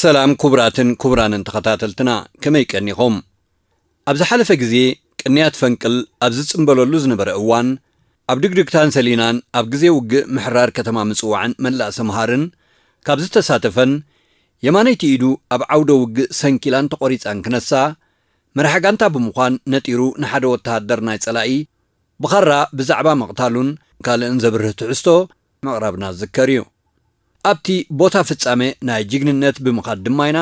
ሰላም ኩቡራትን ኩቡራንን ተኸታተልትና ከመይ ቀኒኹም ኣብ ዝሓለፈ ግዜ ቅንያት ፈንቅል ኣብ ዝጽንበለሉ ዝነበረ እዋን ኣብ ድግድግታን ሰሊናን ኣብ ግዜ ውግእ ምሕራር ከተማ ምጽዋዕን መላእ ሰምሃርን ካብ ዝተሳተፈን የማነይቲ ኢዱ ኣብ ዓውደ ውግእ ሰንኪላን ተቖሪጻን ክነሳ መራሒ ጋንታ ብምዃን ነጢሩ ንሓደ ወተሃደር ናይ ጸላኢ ብኻራ ብዛዕባ ምቕታሉን ካልእን ዘብርህ ትሕዝቶ ምቕራብና ዝዝከር እዩ። ኣብቲ ቦታ ፍጻመ ናይ ጅግንነት ብምኻድ ድማ ኢና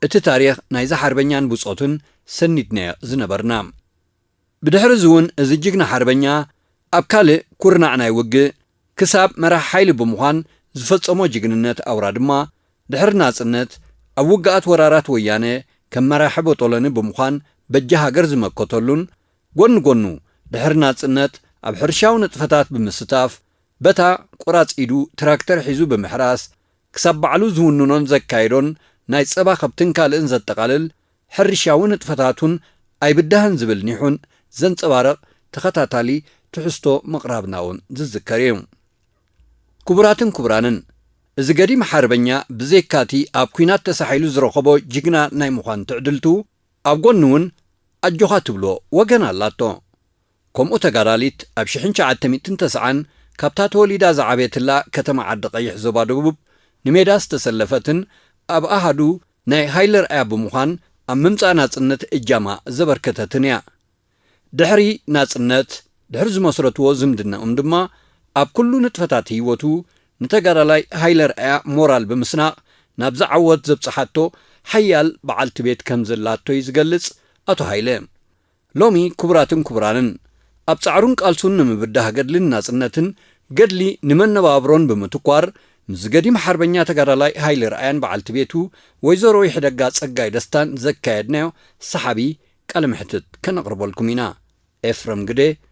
እቲ ታሪኽ ናይዚ ሓርበኛን ብጾቱን ሰኒድናዮ ዝነበርና። ብድሕሪ እዚ እውን እዚ ጅግና ሓርበኛ ኣብ ካልእ ኩርናዕ ናይ ውግእ ክሳብ መራሒ ሓይሊ ብምዃን ዝፈጸሞ ጅግንነት ኣውራ ድማ ድሕሪ ናጽነት ኣብ ውግኣት ወራራት ወያነ ከም መራሒ ቦጦሎኒ ብምዃን በጃ ሃገር ዝመከተሉን ጎኒ ጎኑ ድሕሪ ናጽነት ኣብ ሕርሻዊ ንጥፈታት ብምስታፍ በታ ቁራጽ ኢዱ ትራክተር ሒዙ ብምሕራስ፣ ክሳብ ባዕሉ ዝውንኖን ዘካይዶን ናይ ጸባ ከብትን ካልእን ዘጠቓልል ሕርሻዊ ንጥፈታቱን ኣይብዳህን ዝብል ኒሑን ዘንጸባርቕ ተኸታታሊ ትሕዝቶ ምቕራብናውን ዝዝከር ኢዩ። ክቡራትን ክቡራንን፣ እዚ ገዲም ሓርበኛ ብዘይካቲ ኣብ ኩናት ተሳሒሉ ዝረኸቦ ጅግና ናይ ምዃን ትዕድልቱ፣ ኣብ ጎኑ እውን ኣጆኻ ትብሎ ወገን ኣላቶ። ከምኡ ተጋዳሊት ኣብ ሽሕን ሸዓተ ሚእትን ተስዓን ካብታ ተወሊዳ ዝዓበየትላ ከተማ ዓዲ ቐይሕ ዞባ ደቡብ ንሜዳ ዝተሰለፈትን ኣብ ኣሃዱ ናይ ሃይለ ርኣያ ብምዃን ኣብ ምምጻእ ናጽነት እጃማ ዘበርከተትን እያ። ድሕሪ ናጽነት ድሕሪ ዝመስረትዎ ዝምድነኦም ድማ ኣብ ኩሉ ንጥፈታት ህይወቱ ንተጋዳላይ ሃይለ ርኣያ ሞራል ብምስናቕ ናብዚ ዓወት ዘብጽሓቶ ሓያል በዓልቲ ቤት ከምዘላቶ'ዩ ዝገልጽ ኣቶ ሃይለ። ሎሚ ክቡራትን ክቡራንን፣ ኣብ ጻዕሩን ቃልሱን ንምብዳህ ገድሊ ንናጽነትን ገድሊ ንመነባብሮን ብምትኳር፣ ምስ ገዲም ሓርበኛ ተጋዳላይ ሃይለ ርኣያን በዓልቲ ቤቱ ወይዘሮ ይሕደጋ ጸጋይ ደስታን ዘካየድናዮ ሰሓቢ ቃለ መሕትት ከነቕርበልኩም ኢና። ኤፍረም ግደ፣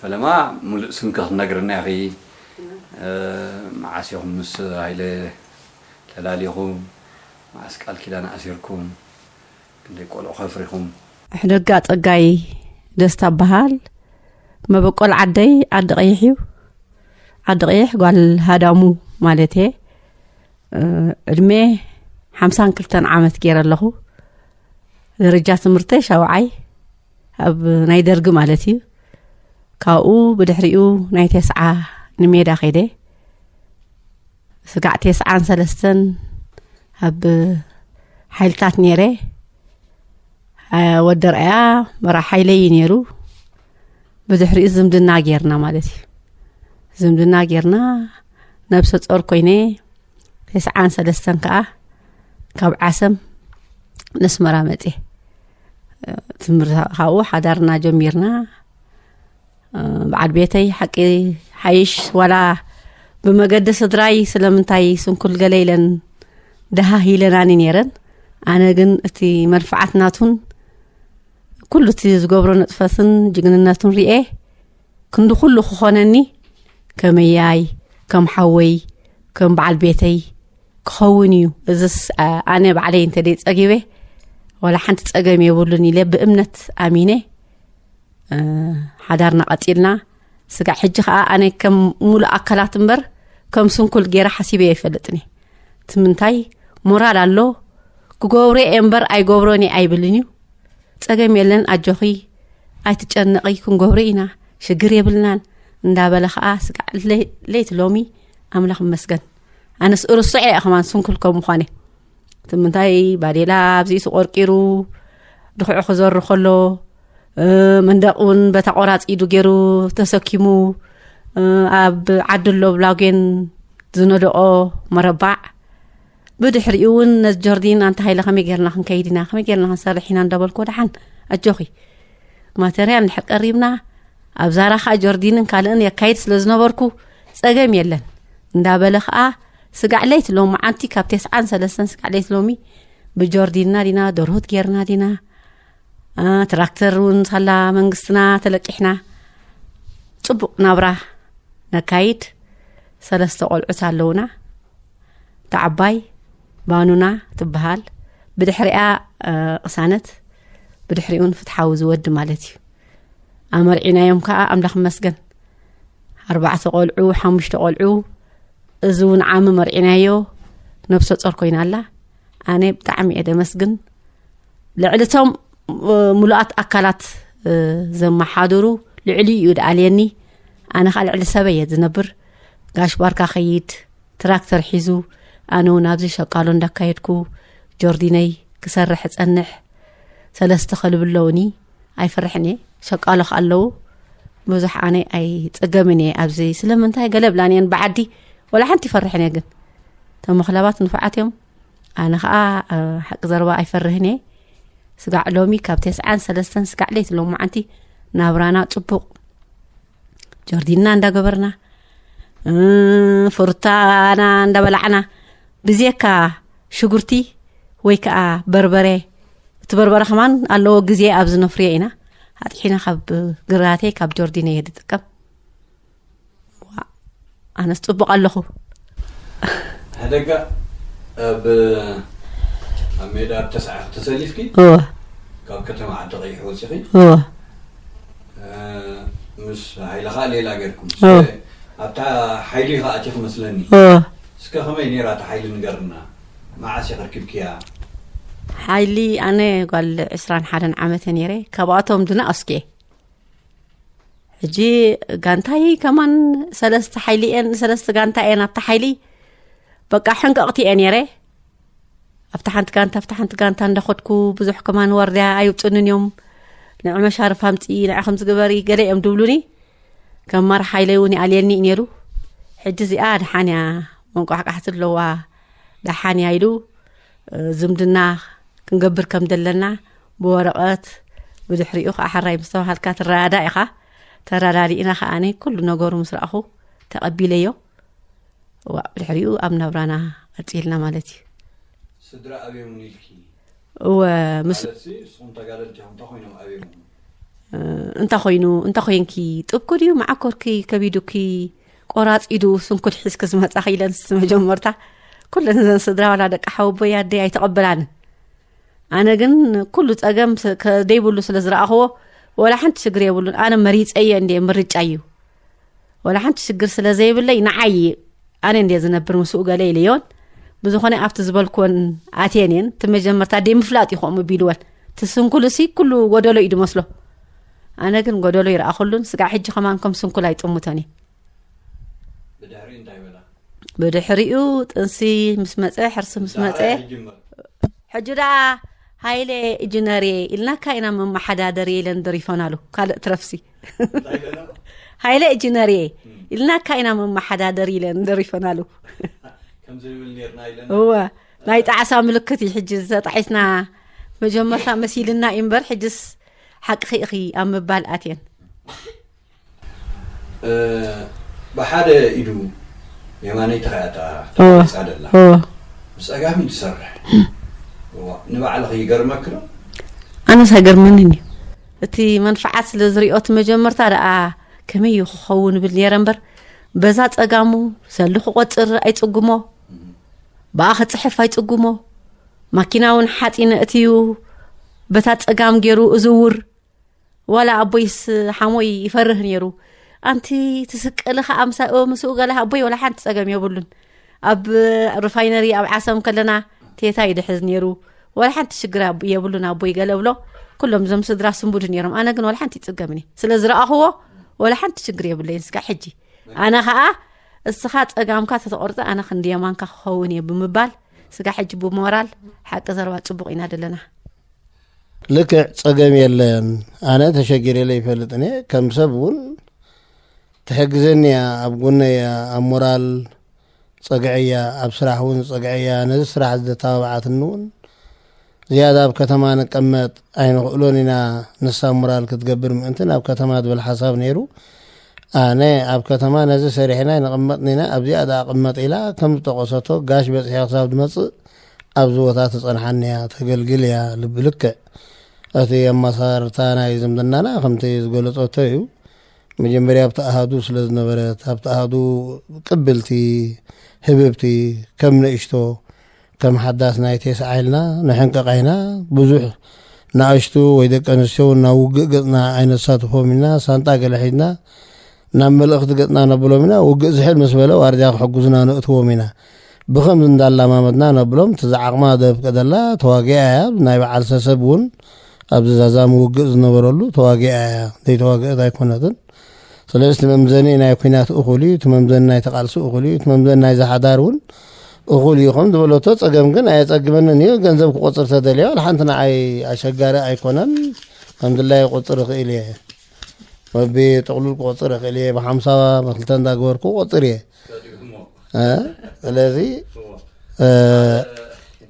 ፈለማ ሙሉእ ስምኪ ክትነግርና ኢኺ መዓስ ኢኹም ምስ ሃይለ ተላሊኹም መዓስ ቃል ኪዳን ኣሲርኩም ክንደይ ቆልዑ ከፍሪኹም። ኣሕደጋ ጸጋይ ደስታ እባሃል መበቆል ዓደይ ዓዲ ቀይሕ እዩ ዓዲ ቀይሕ ጓል ሃዳሙ ማለት እየ ዕድሜ ሓምሳን ክልተን ዓመት ገይረ ኣለኹ ደረጃ ትምህርተይ ሻውዓይ ኣብ ናይ ደርጊ ማለት እዩ ካብኡ ብድሕሪኡ ናይ ቴስዓ ንሜዳ ከይደ ስጋዕ ቴስዓን ሰለስተን ኣብ ሓይልታት ነይረ ወደርኣያ መራ ሓይለ እዩ ነይሩ ብድሕሪኡ ዝምድና ጌርና ማለት እዩ ዝምድና ጌርና ነብሰ ፆር ኮይነ ቴስዓን ሰለስተን ከዓ ካብ ዓሰም ነስመራ መፅየ ትምህርቲ ካብኡ ሓዳርና ጀሚርና በዓል ቤተይ ሓቂ ሓይሽ ዋላ ብመገዲ ስድራይ ስለምንታይ ስንኩል ገለ ኢለን ደሃህ ኢለናኒ ነይረን ኣነ ግን እቲ መርፍዓት ናቱን ኩሉ እቲ ዝገብሮ ነጥፈትን ጅግንነቱን ርኤ ክንዲ ኩሉ ክኾነኒ ከመያይ ከም ሓወይ ከም በዓል ቤተይ ክኸውን እዩ እዝስ ኣነ ባዕለይ እንተ ደይ ጸጊበ ዋላ ሓንቲ ጸገም የብሉን ኢለ ብእምነት ኣሚነ ሓዳርና ቀጢልና ስጋዕ ሕጂ ከዓ ኣነ ከም ሙሉእ ኣካላት እምበር ከም ስንኩል ገይራ ሓሲበ ይፈልጥኒ እቲ ምንታይ ሞራል ኣሎ ክገብሮ እየ እምበር ኣይገብሮን እየ ኣይብልን እዩ ጸገም የለን ኣጆኺ ኣይትጨነቒ ክንገብሮ ኢና ሽግር የብልናን እንዳበለ ከዓ ስጋዕ ለይቲ ሎሚ ኣምላኽ ይመስገን ኣነስ እርስዐ እያ ከማን ስንኩል ከም ምኳነ እቲ ምንታይ ባዴላ ኣብዚኡ ተቆርቂሩ ድክዑ ክዘሩ ከሎ መንደቅ እውን በታ ቆራፂ ኢዱ ገይሩ ተሰኪሙ ኣብ ዓዲ ኣሎ ብላጌን ዝነደቆ መረባዕ ብድሕሪኡ እውን ነዚ ጆርዲን ኣንታ ሃይለ ከመይ ጌርና ክንከይድ ኢና ከመይ ጌርና ክንሰርሕ ኢና እንዳበልኮ ደሓን ኣጆኺ ማተርያ እንድሕር ቀሪብና ኣብ ዛራ ከዓ ጆርዲንን ካልእን የካይድ ስለ ዝነበርኩ ጸገም የለን እንዳበለ ከዓ ስጋዕ ለይቲ ሎሚ መዓንቲ ካብ ቴስዓን ሰለስተን ስጋዕ ለይቲ ሎሚ ብጆርዲንና ዲና ደርሁት ጌርና ዲና ትራክተር እውን ሳላ መንግስትና ተለቂሕና ፅቡቅ ናብራ ነካይድ ሰለስተ ቆልዑት ኣለውና ተዓባይ ባኑና ትበሃል ብድሕሪያ ቅሳነት ብድሕሪኡን ፍትሓዊ ዝወዲ ማለት እዩ ኣመርዒናዮም ከዓ ኣምላኽ መስገን ኣርባዕተ ቆልዑ ሓሙሽተ ቆልዑ እዚ እውን ዓሚ መርዒናዮ ነብሰ ፆር ኮይና ኣላ ኣነ ብጣዕሚ እየ ደመስግን ልዕሊ እቶም ሙሉኣት ኣካላት ዘመሓድሩ ልዕሊ እዩ ድኣልየኒ ኣነ ከዓ ልዕሊ ሰበ እየ ዝነብር ጋሽ ባርካ ከይድ ትራክተር ሒዙ ኣነ እውን ኣብዚ ሸቃሎ እንዳካየድኩ ጆርዲነይ ክሰርሕ እጸንሕ ሰለስተ ከልቢ ኣለውኒ ኣይፈርሕን እየ ሸቃሎ ከ ኣለዉ ብዙሕ ኣነ ኣይፀገምን እየ ኣብዚ ስለምንታይ ገለ ብላን እየን ብዓዲ ወላ ሓንቲ ይፈርሕን እየ ግን እቶም መክለባት ንፉዓት እዮም ኣነ ከዓ ሓቂ ዘረባ ኣይፈርህን እየ ስጋዕ ሎሚ ካብ ቴስዓን ሰለስተን ስጋዕ ለይቲ ሎሚ መዓንቲ ናብራና ፅቡቅ ጆርዲና እንዳገበርና ፍሩታና እንዳበላዕና ብዜካ ሽጉርቲ ወይ ከዓ በርበረ እቲ በርበረ ከማን ኣለዎ ግዜ ኣብ ዝነፍርዮ ኢና ኣጥሒና ካብ ግራቴ ካብ ጆርዲነ እየ ዝጥቀም ኣነስ ጽቡቅ ኣለኹ። ሕደጋ ኣብ ኣብ ሜዳ ኣብ ተስዓኺ ተሰሊፍኪ እወ ካብ ከተማ ዓዲ ቀይሕ ወጺኺ እወ ምስ ሃይለ ከዓ ሌላ ገርኩም እወ። እስከ ኣብታ ሓይሊ ኢኻ ኣቲኺ መስለኒ እወ እስከ ከመይ ነይራ እታ ሓይሊ ንገርና መዓስ ኢኺ ርኪብክያ ሓይሊ ኣነ ጓል ዕስራን ሓደን ዓመት እየ ነይረ ካብኣቶም ድና ኣስኪ እየ ሕጂ ጋንታይ ከማን ሰለስተ ሓይሊ እየን ሰለስተ ጋንታ እየን ኣብቲ ሓይሊ በቃ ሕንቀቕቲ እየ ነይረ ኣብቲ ሓንቲ ጋንታ ኣብቲ ሓንቲ ጋንታ እንዳኸድኩ ብዙሕ ከማን ዋርድያ ኣይውፅንን እዮም ንዕ መሻርፍ ኣምፂ ንዕ ከም ዝግበሪ ገለ እዮም ድብሉኒ ከም ማር ሓይለይ እውን ይኣልየኒ እዩ ነይሩ ሕጂ እዚኣ ድሓን እያ መንቋሕቃሕቲ ኣለዋ ድሓን እያ ኢሉ ዝምድና ክንገብር ከም ዘለና ብወረቐት ብድሕሪኡ ከዓ ሓራይ ምስ ተባሃልካ ትረዳዳእ ኢኻ ተረዳዲእና ከዓኒ ኩሉ ነገሩ ምስ ረኣኹ ተቐቢለዮ ዋእ ብድሕሪኡ ኣብ ናብራና ቀፂልና ማለት እዩ ስድራ ኣብዮም ኢልኪ እወ ምስ ማለት ሲ ንስኹም ተጋደልቲ ኢኹም እንታይ ኮይኖም ኣብዮም እንተ ኮይኑ እንተ ኮንኪ ጥብኩ ድዩ መዓኮርኪ ከቢዱኪ ቆራፅ ኢዱ ስንኩል ሒዝኪ ዝመፃኺ ኢለን መጀመርታ ኩለን እዘን ስድራ ዋላ ደቂ ሓወቦይ ኣደይ ኣይተቐበላንን ኣነ ግን ኩሉ ፀገም ከደይብሉ ስለ ዝረኣኽዎ ወላ ሓንቲ ሽግር የብሉን ኣነ መሪፀየ እንደ ምርጫ እዩ ወላ ሓንቲ ሽግር ስለ ዘይብለይ ንዓይ ኣነ እንደ ዝነብር ምስኡ ገለ ኢለዮን ብዝኾነ ኣብቲ ዝበልክወን ኣትየን እየን እቲ መጀመርታ ደይ ምፍላጥ ይኸምኡ ቢልወን እቲ ስንኩልሲ ኩሉ ጎደሎ እዩ ድመስሎ ኣነ ግን ጎደሎ ይረኣኹሉን ስጋዕ ሕጂ ከማን ከም ስንኩል ኣይጥሙቶን እዩ ብድሕሪኡ ጥንሲ ምስ መፀ ሕርሲ ምስ መፀ ሕጂ ደኣ ሃይለ ኢጅነር እየ ኢልናካ ኢና መመሓዳደር እየ ኢለን ደሪፈን ኣሉ ካልእ ትረፍሲ ሃይለ ኢጅነር እየ ኢልናካ ኢና መመሓዳደር ኢለን ደሪፈን ኣሉ እወ ናይ ጣዕሳ ምልክት እዩ ሕጂ ዝተጣሒስና መጀመርታ መሲልና እዩ እምበር ሕጅስ ሓቅኺ ኢኺ ኣብ ምባል ኣትየን። ብሓደ ኢዱ የማነይ ተራእያ ተቓራ ተቓሪፃ ደላ ብፀጋም ኢዱ ዝሰርሕ ንባዕልኺ ይገርመኪ ዶ? ኣነስ ኣይገርመንን እዩ እቲ መንፍዓት ስለ ዝሪኦ እቲ መጀመርታ ደኣ ከመይ እዩ ክኸውን ብል ነይረ እምበር በዛ ፀጋሙ ሰሉ ክቆፅር ኣይፅጉሞ ብኣ ክፅሕፍ ኣይፅጉሞ ማኪና እውን ሓፂነ እትዩ በታ ፀጋም ገይሩ እዝውር ዋላ ኣቦይስ ሓሞይ ይፈርህ ነይሩ ኣንቲ ትስቀሊ ከዓ ምሳ ምስኡ ገላ ኣቦይ ዋላ ሓንቲ ፀገም የብሉን ኣብ ሪፋይነሪ ኣብ ዓሰም ከለና ቴታ ይድሕዝ ነይሩ ዋላ ሓንቲ ሽግር የብሉን ኣቦይ ገለ ብሎ ኩሎም እዞም ስድራ ስንቡድ ነይሮም ኣነ ግን ዋላ ሓንቲ ይፅገምኒ ስለ ዝረኣኽዎ ዋላ ሓንቲ ሽግር የብለይን ስካ ሕጂ ኣነ ከዓ እስኻ ፀጋምካ ተተቆርፀ ኣነ ክንዲ የማንካ ክኸውን እየ ብምባል ስጋ ሕጂ ብሞራል ሓቂ ዘረባ ፅቡቕ ኢና ዘለና ልክዕ ፀገም የለን ኣነ ተሸጊረለ ይፈልጥኒ ከም ሰብ እውን ትሕግዘኒ እያ ኣብ ጎነ እያ ኣብ ሞራል ፀግዐ እያ ኣብ ስራሕ እውን ፀግዐ እያ ነዚ ስራሕ ዝተባብዓትኒ እውን ዝያዳ ኣብ ከተማ ንቀመጥ ኣይንኽእሎን ኢና ንሳ ሙራል ክትገብር ምእንቲ ናብ ከተማ ዝብል ሓሳብ ነይሩ ኣነ ኣብ ከተማ ነዚ ሰሪሕና ይንቕመጥ ኢና ኣብዚኣ ደኣ ቅመጥ ኢላ ከም ዝጠቐሰቶ ጋሽ በፅሒያ ክሳብ ዝመፅእ ኣብዚ ቦታ ትፀንሓኒ እያ ተገልግል እያ ልቢ ልክዕ እቲ ኣመሳርታ ናይ ዝምድናና ከምቲ ዝገለጸቶ እዩ መጀመርያ ኣብቲ ኣሃዱ ስለ ዝነበረት ኣብቲ ኣሃዱ ቅብልቲ ህብብቲ ከም ንእሽቶ ከም ሓዳስ ናይ ቴስዓ ኢልና ንሕንቅቕ ኢና፣ ብዙሕ ንኣሽቱ ወይ ደቂ ኣንስትዮ እውን ናብ ውግእ ገጽና ኣይነሳትፎም ኢና፣ ሳንጣ ገለ ሒዝና ናብ መልእኽቲ ገጽና ነብሎም ኢና፣ ውግእ ዝሕል ምስ በለ ዋርድያ ክሕግዙና ነእትዎም ኢና፣ ብኸምዚ እንዳላማመድና ነብሎም፣ እቲ ዝዓቕማ ዘፍቅደላ ተዋጊኣ እያ፣ ናይ በዓል ሰሰብ እውን ኣብዚ ዛዛሚ ውግእ ዝነበረሉ ተዋጊኣ እያ፣ ዘይተዋግእት ኣይኮነትን፣ ስለዚ እቲ መምዘኒ ናይ ኩናት እኹል እዩ፣ እቲ መምዘኒ ናይቲ ቃልሲ እኹል እዩ፣ እቲ መምዘኒ ናይዚ ሓዳር እውን እኹል እዩ ከም ዝበለቶ፣ ጸገም ግን ኣየጸግመንን እዩ፣ ገንዘብ ክቆጽር ተደልዮ ዋላ ሓንቲ ንዓይ ኣሸጋሪ ኣይኮነን፣ ከም ድላየ ክቁጽር እኽእል እየ፣ በቢ ጥቕሉል ክቆጽር እኽእል እየ፣ ብሓምሳ ብክልተ እንዳገበርኩ ክቆጽር እየ። ስለዚ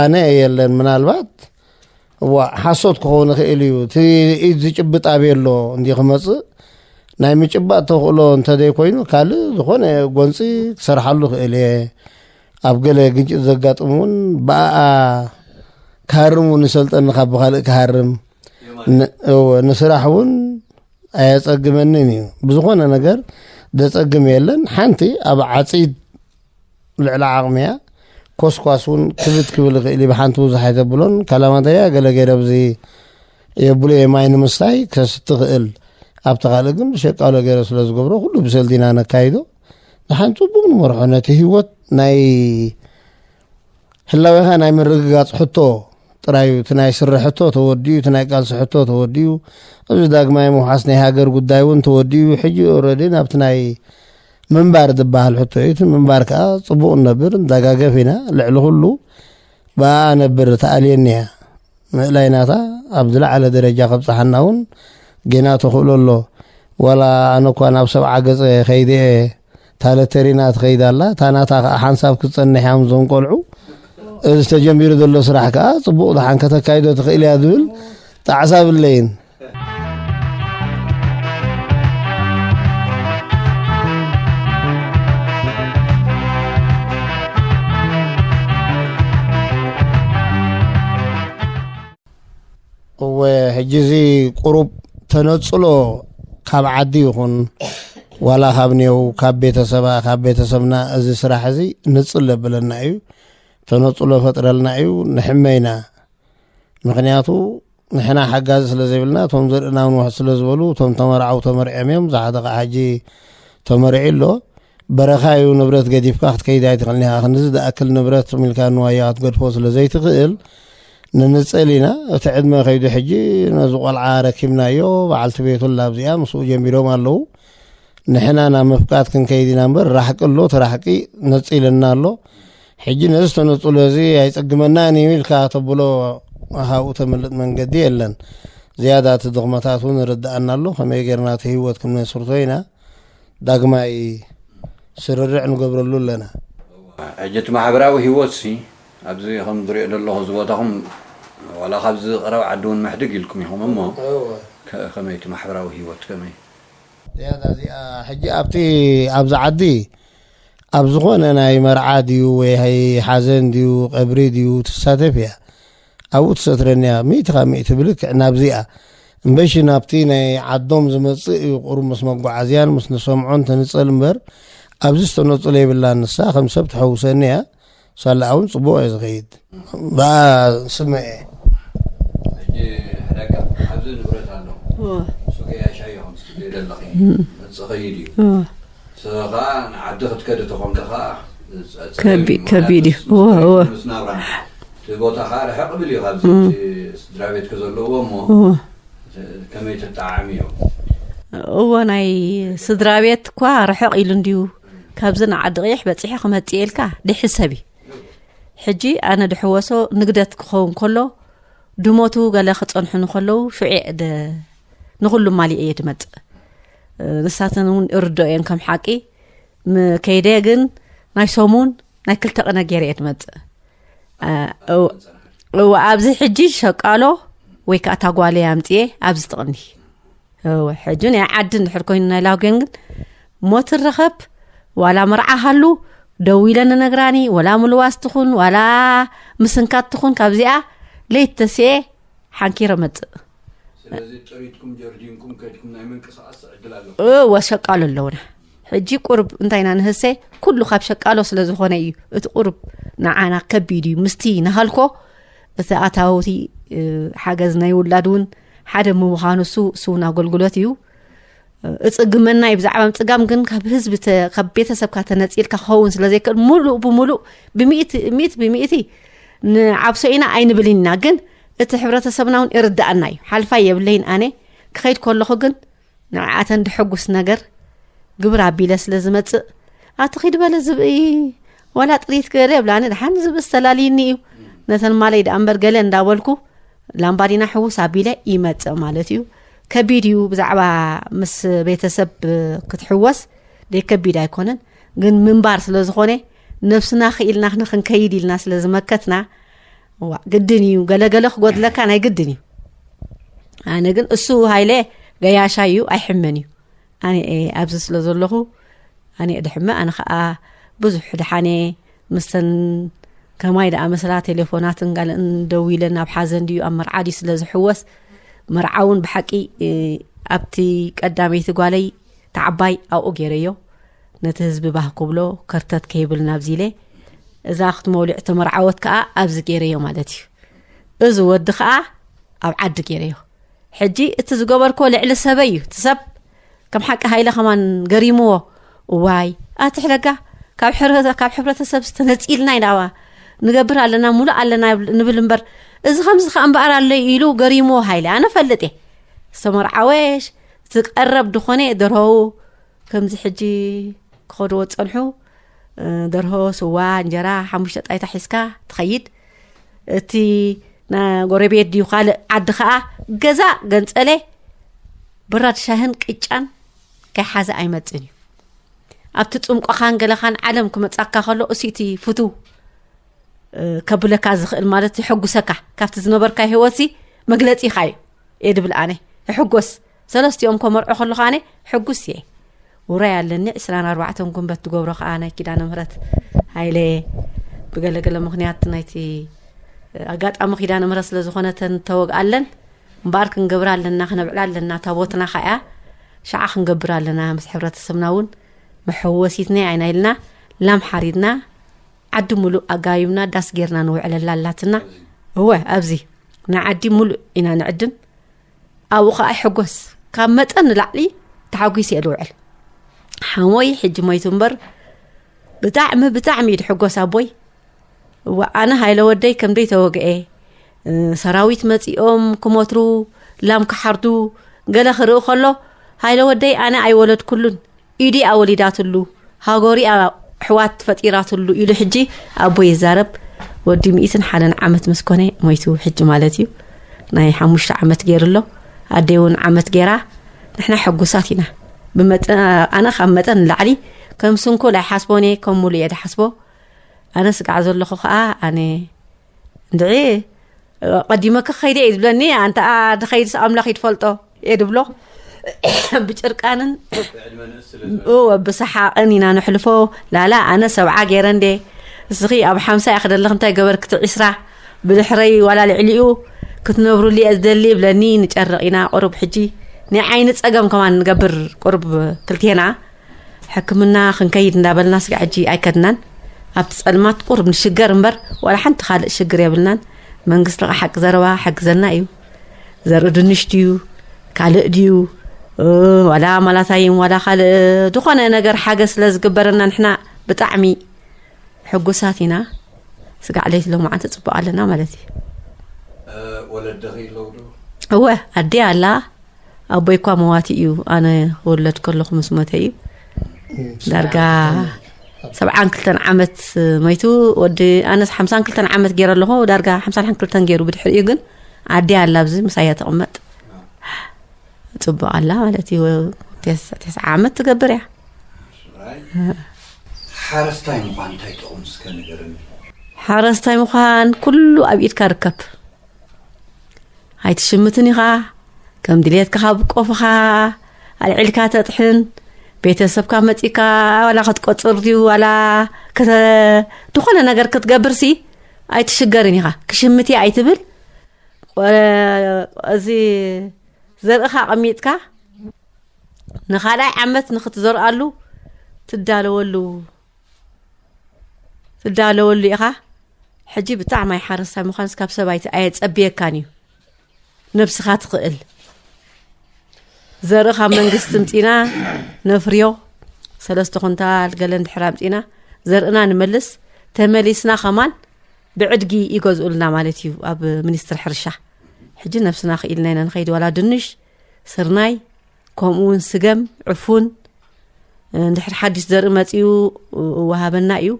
ኣነ የለን ምናልባት እዋእ ሓሶት ክኸውን ይኽእል እዩ እቲ ኢድ ዝጭብጥ ኣበየ ኣሎ እንዲ ክመፅእ ናይ ምጭባጥ ተኽእሎ እንተዘይኮይኑ ካልእ ዝኾነ ጎንፂ ክሰርሓሉ ክእል እየ ኣብ ገለ ግንጭት ዘጋጥም እውን ብኣኣ ክሃርም እውን ንሰልጠኒ ካብ ብካልእ ክሃርም ንስራሕ እውን ኣየፀግመንን እዩ ብዝኾነ ነገር ዘፀግም የለን ሓንቲ ኣብ ዓፂድ ልዕሊ ዓቕሚ እያ ኮስኳስ እውን ክብት ክብል ይኽእል እዩ ብሓንቲ ብዙሕ ኣይተብሎን ካላማተሪያ ገለ ገይረ ብዚ የብሎ እየ ማይ ንምስታይ ከስቲ ክእል ኣብቲ ካልእ ግን ብሸቃሎ ገይረ ስለ ዝገብሮ ኩሉ ብሰልቲ ኢና ነካይዶ ንሓን ፅቡቅ ንመርሖ ነቲ ህይወት ናይ ህላዌኻ ናይ ምርግጋፅ ሕቶ ጥራዩ እቲ ናይ ስረ ሕቶ ተወዲኡ እቲ ናይ ቃልሲ ሕቶ ተወዲኡ እዚ ዳግማይ ምውሓስ ናይ ሃገር ጉዳይ እውን ተወዲኡ ሕጂ ኦረዲ ናብቲ ናይ ምንባር ዝበሃል ሕቶ እዩ። እቲ ምንባር ከዓ ፅቡቕ ንነብር ንተጋገፍ ኢና። ልዕሊ ኩሉ ብኣኣ ኣነብር ትኣልየኒ እያ። ምእላይ ናታ ኣብ ዝለዓለ ደረጃ ከብፅሓና እውን ጌና ተኽእሎ ኣሎ። ዋላ ኣነ እኳ ናብ ሰብዓ ገፀ ከይደ እየ ታለተሪና ትኸይድ ኣላ። እታ ናታ ከዓ ሓንሳብ ክትፀንሕ እያ ምስዞም ቆልዑ። እዚ ተጀሚሩ ዘሎ ስራሕ ከዓ ፅቡቕ ደሓን ከተካይዶ ትኽእል እያ ዝብል ጣዕሳ የብለይን። እወ ሕጂ እዚ ቁሩብ ተነጽሎ ካብ ዓዲ ይኹን ዋላ ካብ ኔው ካብ ቤተሰባ ካብ ቤተሰብና እዚ ስራሕ እዚ ንጽል ለብለና እዩ ተነጽሎ ፈጥረልና እዩ ንሕመይና ምክንያቱ ንሕና ሓጋዚ ስለ ዘይብልና እቶም ዘርእና ውን ውሕ ስለ ዝበሉ እቶም ተመርዓው ተመርዕዮም እዮም እዛ ሓደ ከዓ ሕጂ ተመርዒ ኣሎ በረኻ እዩ ንብረት ገዲፍካ ክትከይድ ኣይትኽእልን ኢኻ ክንዚ ዝኣክል ንብረት ሚልካ ንዋያ ክትገድፎ ስለ ዘይትኽእል ንንፅል ኢና እቲ ዕድመ ከይዱ ሕጂ ነዚ ቆልዓ ረኪብናዮ በዓልቲ ቤቱላ ኣብዚኣ ምስኡ ጀሚሮም ኣለዉ ንሕና ናብ ምፍቃድ ክንከይድ ኢና እምበር ራሕቂ ኣሎ እቲ ራሕቂ ነፂልና ኣሎ ሕጂ ነዚ ተነጽሎ እዚ ኣይጸግመናን እዩ ኢልካ ተብሎ ካብኡ ተምልጥ መንገዲ የለን። ዝያዳ እቲ ድኽመታት እውን ይርድኣና ኣሎ። ከመይ ጌርና እቲ ህይወት ክንመስርቶ ኢና ዳግማይ ስርርዕ ንገብረሉ ኣለና። ሕጂ እቲ ማሕበራዊ ህይወትሲ ኣብዚ ከም ዝሪኦ ዘለኹ እዚ ቦታኹም ዋላ ካብዚ ቀረባ ዓዲ እውን ምሕድግ ኢልኩም ኢኹም እሞ ከመይ እቲ ማሕበራዊ ህይወት ከመይ? ዝያዳ እዚኣ ሕጂ ኣብቲ ኣብዚ ዓዲ ኣብ ዝኾነ ናይ መርዓ ድዩ ወይ ሓዘን ድዩ ቀብሪ ድዩ ትሳተፍ እያ ኣብኡ ትሰትረኒ እያ ሚእቲ ካብ ሚእቲ ብልክዕ ናብዚኣ እምበሺ ናብቲ ናይ ዓዶም ዝመጽእ እዩ ቁሩብ ምስ መጓዓዝያን ምስ ንሰምዖን ትንጸል እምበር ኣብዚ ዝተነጽሎ የብላን ንሳ ከም ሰብ ትሐውሰኒ እያ ሳላ እውን ፅቡቅ እዩ ዝኸይድ ብኣ ስመ እየ ከቢድ እዩ ቦታኻ ርሕቅ ብል እዩ ካብዚ ስድራ ቤትክ ዘለዎ እሞ ከመይ ትጠዓሚ እዮም እዎ ናይ ስድራ ቤት እኳ ርሕቅ ኢሉ እንድዩ ካብዚ ንዓዲ ቕይሕ በፂሐ ክመፅእ ኢልካ ድሕዝ ሰብ እዩ ሕጂ ኣነ ድሕወሶ ንግደት ክኸውን ከሎ ድሞቱ ገለ ክፀንሑ ንከለዉ ሽዑ ንኩሉ ማሊእ እየ ድመፅእ ንሳተን እውን እርዶ እየን ከም ሓቂ ከይደ ግን ናይ ሰሙን ናይ ክልተ ቅነ ገይረ እየ ድመፅእ እወ ኣብዚ ሕጂ ሸቃሎ ወይ ከዓ ታጓለይ ኣምፅኤ ኣብዚ ትቕኒ እወ ሕጂ ናይ ዓዲ እንድሕር ኮይኑ ናይ ላጉዮን ግን ሞት ረኸብ ዋላ መርዓ ሃሉ ደው ኢለ ንነግራኒ ወላ ምልዋስ ትኹን ዋላ ምስንካት ትኹን ካብዚኣ ለይት ተስኤ ሓንኪረ መፅእ እወ ሸቃሎ ኣለውና ሕጂ ቁርብ እንታይና ንህሰ ኩሉ ካብ ሸቃሎ ስለ ዝኾነ እዩ እቲ ቁርብ ንዓና ከቢድ እዩ ምስቲ ንሃልኮ እቲ ኣታውቲ ሓገዝ ናይ ውላድ እውን ሓደ ምዃኑ እሱ ስውን ኣገልግሎት እዩ እፅግመና እዩ ብዛዕባ ምፅጋም ግን ካብ ህዝቢ ካብ ቤተሰብካ ተነፂልካ ክኸውን ስለ ዘይክእል ሙሉእ ብምሉእ ብምእት ብምእቲ ንዓብሶ ኢና ኣይንብልን ኢና ግን እቲ ሕብረተሰብና እውን ይርዳእና እዩ ሓልፋይ የብለይን ኣነ ክኸይድ ከለኹ ግን ንዕኣተን ድሕጉስ ነገር ግብር ኣቢለ ስለ ዝመጽእ ኣቲ ኺድ በለ ዝብኢ ዋላ ጥሪት ገለ የብላኒ ድሓን ዝብኢ ዝተላልይኒ እዩ ነተን ማለይ ደኣ እምበር ገለ እንዳበልኩ ላምባዲና ሕውስ ኣቢለ ይመጽእ ማለት እዩ ከቢድ እዩ ብዛዕባ ምስ ቤተሰብ ክትሕወስ ደይ ከቢድ ኣይኮነን ግን ምንባር ስለ ዝኾነ ነብስና ክኢልና ንክንከይድ ኢልና ስለ ዝመከትና እዋእ ግድን እዩ ገለ ገለ ክጎድለካ ናይ ግድን እዩ ኣነ ግን እሱ ሃይለ ገያሻ እዩ ኣይሕመን እዩ ኣነ ኣብዚ ስለ ዘለኹ ኣነ ድሕመ ኣነ ከዓ ብዙሕ ድሓነ ምስተን ከማይ ደኣ መስላ ቴሌፎናትን ጋልእን ደው ኢለን ኣብ ሓዘን ድዩ ኣብ መርዓ ድዩ ስለ ዝሕወስ መርዓ እውን ብሓቂ ኣብቲ ቀዳመይቲ ጓለይ ተዓባይ ኣብኡ ገይረዮ ነቲ ህዝቢ ባህ ክብሎ ከርተት ከይብል ናብዚ ኢለ እዛ ኣኽቲ መውሊዕ ተመርዓወት ከዓ ኣብዚ ገይረዮ ማለት እዩ እዚ ወዲ ከዓ ኣብ ዓዲ ገይረዮ ሕጂ እቲ ዝገበርኮ ልዕሊ ሰበይ እዩ እቲ ሰብ ከም ሓቂ ሃይለ ከማን ገሪምዎ እዋይ ኣትሕለጋ ካብ ካብ ሕብረተሰብ ዝተነፂልና ኢና ንገብር ኣለና ሙሉእ ኣለና ንብል እምበር እዚ ከምዚ ከዓ እምበኣር ኣለዩ ኢሉ ገሪምዎ ሃይለ ኣነ ፈልጥ እየ ዝተመርዓወሽ እቲ ቀረብ ድኾነ ደርሆው ከምዚ ሕጂ ክኸድዎ ዝጸንሑ ደርሆ ስዋ እንጀራ ሓሙሽተ ጣይታ ሒዝካ ትኸይድ እቲ ጎረቤት ድዩ ካልእ ዓዲ ከዓ ገዛ ገንፀለ ብራድ ሻህን ቅጫን ከይሓዘ ኣይመፅን እዩ ኣብቲ ፅምቆኻን ገለኻን ዓለም ክመፃካ ከሎ እሲቲ ፍትው ከብለካ ዝኽእል ማለት የሐጉሰካ ካብቲ ዝነበርካ ሂወት መግለፂኻ እዩ እየ ድብል ኣነ እሕጎስ ሰለስትኦም ከመርዖ ከለኹ ኣነ ሕጉስ እየ ውራይ ኣለኒ ዕስራን ኣርባዕተን ጉንበት ትገብሮ ከዓ ናይ ኪዳነ ምህረት ሃይለ ብገለገለ ምክንያት ናይቲ ኣጋጣሚ ኪዳነ ምህረት ስለ ዝኾነተን ተወግኣለን እምበኣር ክንገብር ኣለና ክነብዕላ ኣለና ታቦትና ካያ ሸዓ ክንገብር ኣለና ምስ ሕብረተሰብና እውን መሐወሲትናይ ኣይና ኢልና ላም ሓሪድና ዓዲ ሙሉእ ኣጋዩና ዳስ ጌርና ንውዕለላ ኣላትና እወ ኣብዚ ንዓዲ ሙሉእ ኢና ንዕድም ኣብኡ ከዓ ይሕጎስ ካብ መጠን ንላዕሊ ተሓጒስ እየ ዝውዕል ሓሞይ ሕጂ ሞይቱ እምበር ብጣዕሚ ብጣዕሚ እዩ ዝሕጎስ ኣቦይ እወ ኣነ ሃይለ ወደይ ከምደይ ተወግአ ሰራዊት መፂኦም ክሞትሩ ላም ክሓርዱ ገለ ክርኢ ከሎ ሃይለ ወደይ ኣነ ኣይወለድኩሉን ኢዲኣ ወሊዳትሉ ሃጎሪኣ ኣሕዋት ፈጢራትሉ ኢሉ ሕጂ ኣቦይ ይዛረብ ወዲ ሚእትን ሓደን ዓመት ምስ ኮነ ሞይቱ ሕጂ ማለት እዩ ናይ ሓሙሽተ ዓመት ገይሩ ኣሎ ኣደይ እውን ዓመት ገይራ ንሕና ሕጉሳት ኢና ኣነ ካብ መጠን ንላዕሊ ከም ስንኩል ኣይሓስቦን እየ ከም ሙሉ እየ ድሓስቦ ኣነ ስጋዕ ዘለኹ ከዓ ኣነ እንድዒ ቀዲመ ክኸይደ እዩ ዝብለኒ ኣንተኣ ድኸይድስ ኣምላኽ ይድፈልጦ እየ ድብሎ ብጭርቃንን ብሰሓቕን ኢና ነሕልፎ ላላ ኣነ ሰብዓ ገይረ እንዴ እስኺ ኣብ ሓምሳ እየ ክደለኽ እንታይ ገበርክቲ ዒስራ ብድሕረይ ዋላ ልዕሊኡ ክትነብሩሉ እየ ዝደሊ ይብለኒ ንጨርቕ ኢና ቁሩብ ሕጂ ናይ ዓይኒ ፀገም ከማን ንገብር ቁሩብ ክልቴና ሕክምና ክንከይድ እንዳበልና ስጋ ሕጂ ኣይከድናን ኣብቲ ጸልማት ቁርብ ንሽገር እምበር ዋላ ሓንቲ ካልእ ሽግር የብልናን መንግስቲ ኸ ሓቂ ዘረባ ሕግዘና እዩ ዘርኢ ድንሽ ድዩ ካልእ ድዩ ዋላ ማላታይን ዋላ ካልእ ዝኾነ ነገር ሓገ ስለ ዝግበረና ንሕና ብጣዕሚ ሕጉሳት ኢና ስጋዕ ለይቲ ሎማዓንቲ ፅቡቅ ኣለና ማለት እዩ ወለድኺ ኣለውዶ እወ ኣዴ ኣላ ኣቦይ እኳ መዋቲ እዩ ኣነ ክወለድ ከለኹ ምስ ሞተ እዩ ዳርጋ ሰብዓን ክልተን ዓመት መይቱ ወዲ ኣነስ ሓምሳን ክልተን ዓመት ገይረ ኣለኹ ዳርጋ ሓምሳን ሓን ክልተን ገይሩ ብድሕሪ እዩ ግን ዓዲ ኣላ ኣብዚ ምሳያ ተቕመጥ ፅቡቅ ኣላ ማለት እዩ ተስዓ ዓመት ትገብር እያ ሓረስታይ ምኳን እንታይ ጥቕሙ እስከ ንገርኒ ሓረስታይ ምኳን ኩሉ ኣብ ኢድካ ርከብ ኣይትሽምትን ኢኻ ከም ድሌትካ ካብ ቆፍኻ ኣልዒልካ ተጥሕን ቤተሰብካ መፂእካ ዋላ ክትቆፅር ድዩ ዋላ ዝኾነ ነገር ክትገብርሲ ኣይትሽገርን ኢኻ ክሽምት ኣይትብል እዚ ዘርእኻ ኣቐሚጥካ ንካልኣይ ዓመት ንክትዘርኣሉ ትዳለወሉ ትዳለወሉ ኢኻ ሕጂ ብጣዕሚ ኣይ ሓረስታይ ምዃንስ ካብ ሰባይቲ ኣየጸብየካን እዩ ነብስኻ ትኽእል ዘርኢ ካብ መንግስቲ ምፂና ነፍርዮ ሰለስተ ኩንታል ገለ እንድሕር ኣምፂና ዘርእና ንመልስ ተመሊስና ከማን ብዕድጊ ይገዝኡልና ማለት እዩ ኣብ ሚኒስትሪ ሕርሻ ሕጂ ነብስና ክኢልና ኢና ንኸይድ ዋላ ድንሽ ስርናይ ከምኡ ውን ስገም ዕፉን ንድሕሪ ሓድሽ ዘርኢ መፅኡ ወሃበና እዩ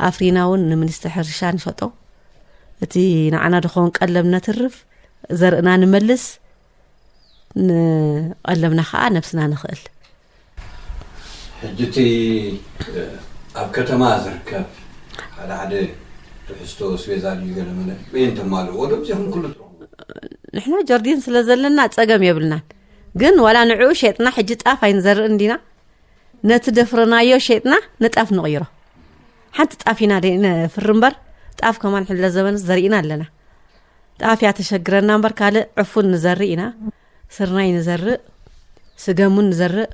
ኣፍሪና ውን ንምኒስተ ሕርሻ ንሸጦ እቲ ንዓና ድኸውን ቀለብ ነትርፍ ዘርእና ንመልስ ንቀለብና ከዓ ነብስና ንኽእል ሕጂ እቲ ኣብ ከተማ ዝርከብ ሓደ ሓደ ትሕዝቶ ስቤዛ ድዩ ገለ መለ በየን ተማልእዎ ዶ ዚኹም ኩሉ ንሕና ጀርዲን ስለ ዘለና ፀገም የብልናን ግን ዋላ ንዕኡ ሸጥና ሕጂ ጣፍ ኣይንዘርእን ዲና ነቲ ደፍረናዮ ሸጥና ንጣፍ ንቕይሮ ሓንቲ ጣፍ ኢና ነፍሪ እምበር ጣፍ ከማን ሕለ ዘበንስ ዘርኢና ኣለና ጣፍ እያ ተሸግረና እምበር ካልእ ዕፉን ንዘርእ ኢና ስርናይ ንዘርእ ስገሙን ንዘርእ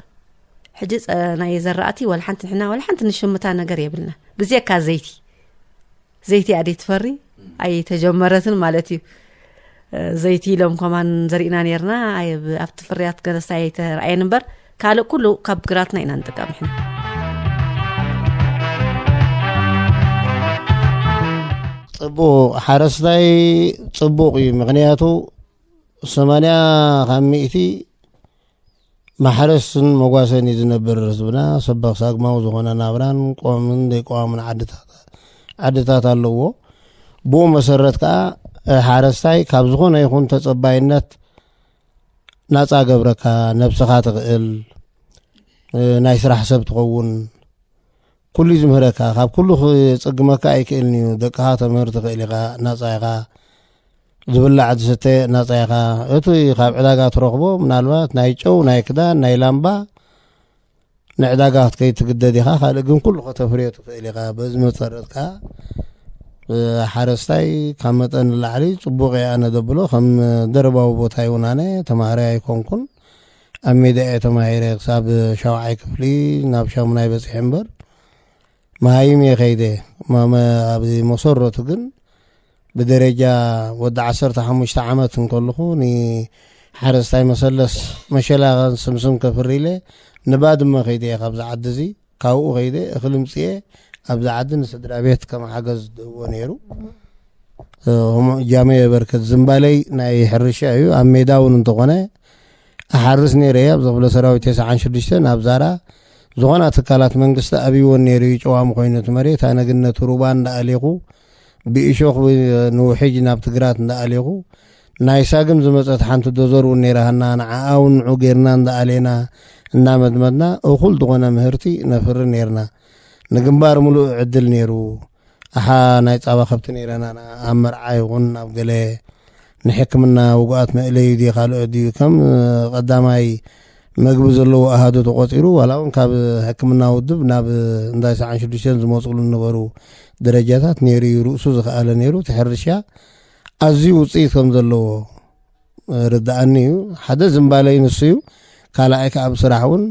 ሕጂ ናይ ዘራእቲ ወላ ሓንቲ ንሕና ወላ ሓንቲ ንሽምታ ነገር የብልና ብዘካ ዘይቲ ዘይቲ ኣደይ ትፈሪ ኣይ ተጀመረትን ማለት እዩ ዘይቲ ኢሎም ከማን ዘሪእና ነርና ኣብቲ ፍርያት ገለሳ ኣይተረኣየን እምበር ካልእ ኩሉ ካብ ግራትና ኢና ንጥቀም ሕና ፅቡቅ ሓረስታይ ፅቡቅ እዩ ምክንያቱ ሰማንያ ካብ ሚእቲ ማሕረስን መጓሰን እዩ ዝነብር ህዝብና። ሰበኽ ሳግማዊ ዝኾነ ናብራን ቆዋምን ዘይቆዋምን ዓድታት ዓድታት ኣለዎ። ብኡ መሰረት ከዓ ሓረስታይ ካብ ዝኾነ ይኹን ተፀባይነት ናፃ ገብረካ ነብስኻ ትኽእል ናይ ስራሕ ሰብ ትኸውን ኩሉ እዩ ዝምህረካ ካብ ኩሉ ክጽግመካ ኣይክእልን እዩ ደቅኻ ተምህር ትኽእል ኢኻ ናጻ ኢኻ ዝብላዕ ዝስተ ናጻ ኢኻ እቲ ካብ ዕዳጋ ትረኽቦ ምናልባት ናይ ጨው ናይ ክዳን ናይ ላምባ ንዕዳጋ ክትከይድ ትግደድ ኢኻ ካልእ ግን ኩሉ ከተፍርዮ ትኽእል ኢኻ በዚ መሰረት ከዓ ሓረስታይ ካብ መጠን ንላዕሊ ፅቡቅ ኣነ ደብሎ ከም ደረባዊ ቦታ ይውን ኣነ ተማሃራይ ኣይኮንኩን ኣብ ሜዳ እየ ተማሂረ ክሳብ ሻውዓይ ክፍሊ ናብ ሻሙናይ በፂሐ እምበር መሃይም እየ ከይደ ማመ ኣብዚ መሰረቱ ግን ብደረጃ ወዲ ዓሰርተ ሓሙሽተ ዓመት እንከልኹ ንሓረስታይ መሰለስ መሸላ ስምስም ከፍሪ ኢለ ንባድመ ከይደ እየ ካብዚ ዓዲ እዙይ ካብኡ ከይደ እኽሊ ምፅኤ ኣብዚ ዓዲ ንስድራቤት ከም ሓገዝ ድህቦ ነይሩ ጃመ የበርከት ዝምባለይ ናይ ሕርሻ እዩ ኣብ ሜዳ እውን እንተኾነ ኣሓርስ ነይረ እየ ኣብ ዘኽፍለ ሰራዊት ተስዓን ሽዱሽተን ኣብ ዛራ ዝኾና ትካላት መንግስቲ ኣብይዎን ነይሩ እዩ ጨዋሚ ኮይኑ እቲ መሬት ኣነግነቱ ሩባ እንዳኣሌኹ ብእሾኽ ንውሕጅ ናብቲ ግራት እንዳኣሌኹ ናይ ሳግም ዝመጸት ሓንቲ ዶዘር እውን ነይራሃና ንዓኣ እውን ንዑ ጌርና እንዳኣሌና እንዳመድመድና እኹል ዝኾነ ምህርቲ ነፍሪ ነይርና ንግንባር ምሉእ ዕድል ነይሩ ኣሓ ናይ ጻባ ከብቲ ነይረናና ኣብ መርዓ ይኹን ኣብ ገለ ንሕክምና ውጉኣት መእለዩ ድዩ ካልኦት ድዩ ከም ቐዳማይ መግቢ ዘለዎ ኣሃዱ ተቖፂሩ ዋላ እውን ካብ ሕክምና ውድብ ናብ እንዳ ሰዓን ሽዱሽተን ዝመፅሉ ዝነበሩ ደረጃታት ነይሩ እዩ ርእሱ ዝኸኣለ ነይሩ እቲ ሕርሻ ኣዝዩ ውፅኢት ከም ዘለዎ ርድኣኒ እዩ ሓደ ዝምባለይ ንሱ እዩ ካልኣይ ከዓ ብስራሕ እውን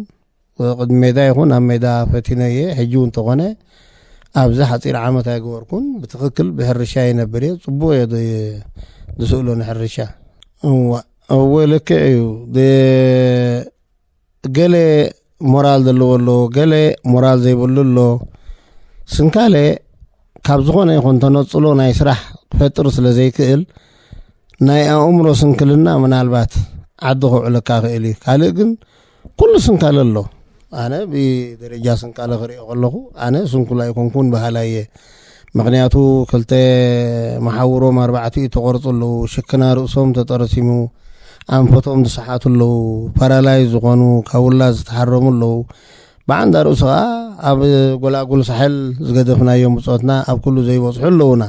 ቅድሚ ሜዳ ይኹን ኣብ ሜዳ ፈቲነ እየ ሕጂ እውን ተኾነ ኣብዚ ሓፂር ዓመት ኣይገበርኩን ብትክክል ብሕርሻ ይነብር እየ ፅቡቅ እየ ዝስእሎ ንሕርሻ እዋ እወ ልክዕ እዩ ገለ ሞራል ዘለዎ ኣሎ ገለ ሞራል ዘይብሉ ኣሎ ስንካለ ካብ ዝኾነ ይኹን ተነፅሎ ናይ ስራሕ ክፈጥር ስለ ዘይክእል ናይ ኣእምሮ ስንክልና ምናልባት ዓዲ ከውዕለካ ክእል እዩ ካልእ ግን ኩሉ ስንካለ ኣሎ ኣነ ብደረጃ ስንካለ ክሪኦ ከለኹ ኣነ ስንኩል ኣይኮንኩን በሃላይ እየ ምክንያቱ ክልተ መሓውሮም ኣርባዕቲኡ ተቆርፁ ኣለዉ ሽክና ርእሶም ተጠረሲሙ ኣንፈቶም ዝሰሓቱ ኣለዉ ፓራላይ ዝኾኑ ካብ ውላድ ዝተሓረሙ ኣለዉ ብዓንዳ ርእሱ ከዓ ኣብ ጎላጉል ሳሕል ዝገደፍናዮም ብፆትና ኣብ ኩሉ ዘይበፅሑ ኣለዉና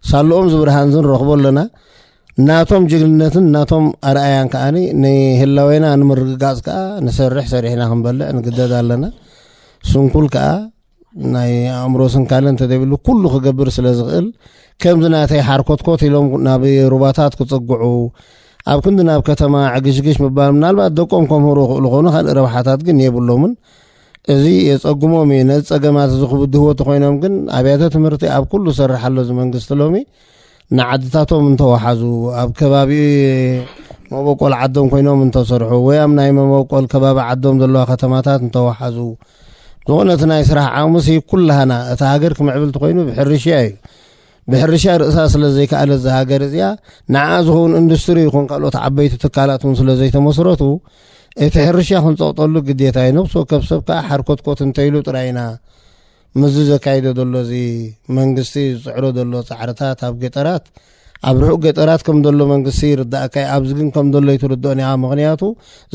ሳልኦም ዝብርሃን ዝንረኽቦ ኣለና ናቶም ጅግንነትን ናቶም ኣርኣያን ከኣ ንህላዌና ንምርግጋጽ ከኣ ንሰርሕ ሰሪሕና ክንበልዕ ንግደድ ኣለና ስንኩል ከኣ ናይ ኣእምሮ ስንካለ እንተደብሉ ኩሉ ክገብር ስለ ዝኽእል ከምዚ ናተይ ሓርኮትኮት ኢሎም ናብ ሩባታት ክጽግዑ ኣብ ክንዲ ናብ ከተማ ዕግሽግሽ ምባል ምናልባት ደቆም ከምህሩ ይኽእሉ ኾኑ ካልእ ረብሓታት ግን የብሎምን እዚ የጸግሞም እዩ ነዚ ጸገማት እዚ ክብድህዎ ተኮይኖም ግን ኣብያተ ትምህርቲ ኣብ ኩሉ ሰርሕ ኣሎ እዚ መንግስቲ ሎሚ ንዓድታቶም እንተወሓዙ ኣብ ከባቢ መበቆል ዓዶም ኮይኖም እንተሰርሑ ወይ ኣብ ናይ መበቆል ከባቢ ዓዶም ዘለዋ ከተማታት እንተወሓዙ ዝኾነ እቲ ናይ ስራሕ ዓቕምሲ ኩላህና እታ ሃገር ክምዕብል ትኮይኑ ብሕርሽያ እዩ ብሕርሻ ርእሳ ስለ ዘይከኣለ እዚ ሃገር እዚኣ ንዓ ዝኸውን ኢንዱስትሪ ይኹን ካልኦት ዓበይቲ ትካላት እውን ስለ ዘይተመስረቱ እቲ ሕርሻ ክንፀቕጠሉ ግዴታ እዩ ነብሲ ወከፍ ሰብ ከዓ ሓርኮትኮት እንተይሉ ጥራይ ኢና ምስዚ ዘካይዶ ዘሎ እዚ መንግስቲ ዝፅዕሮ ዘሎ ፃዕርታት ኣብ ገጠራት ኣብ ርሑቅ ገጠራት ከም ዘሎ መንግስቲ ይርዳእካ እዩ ኣብዚ ግን ከም ዘሎ ይትርድኦን እያ ምክንያቱ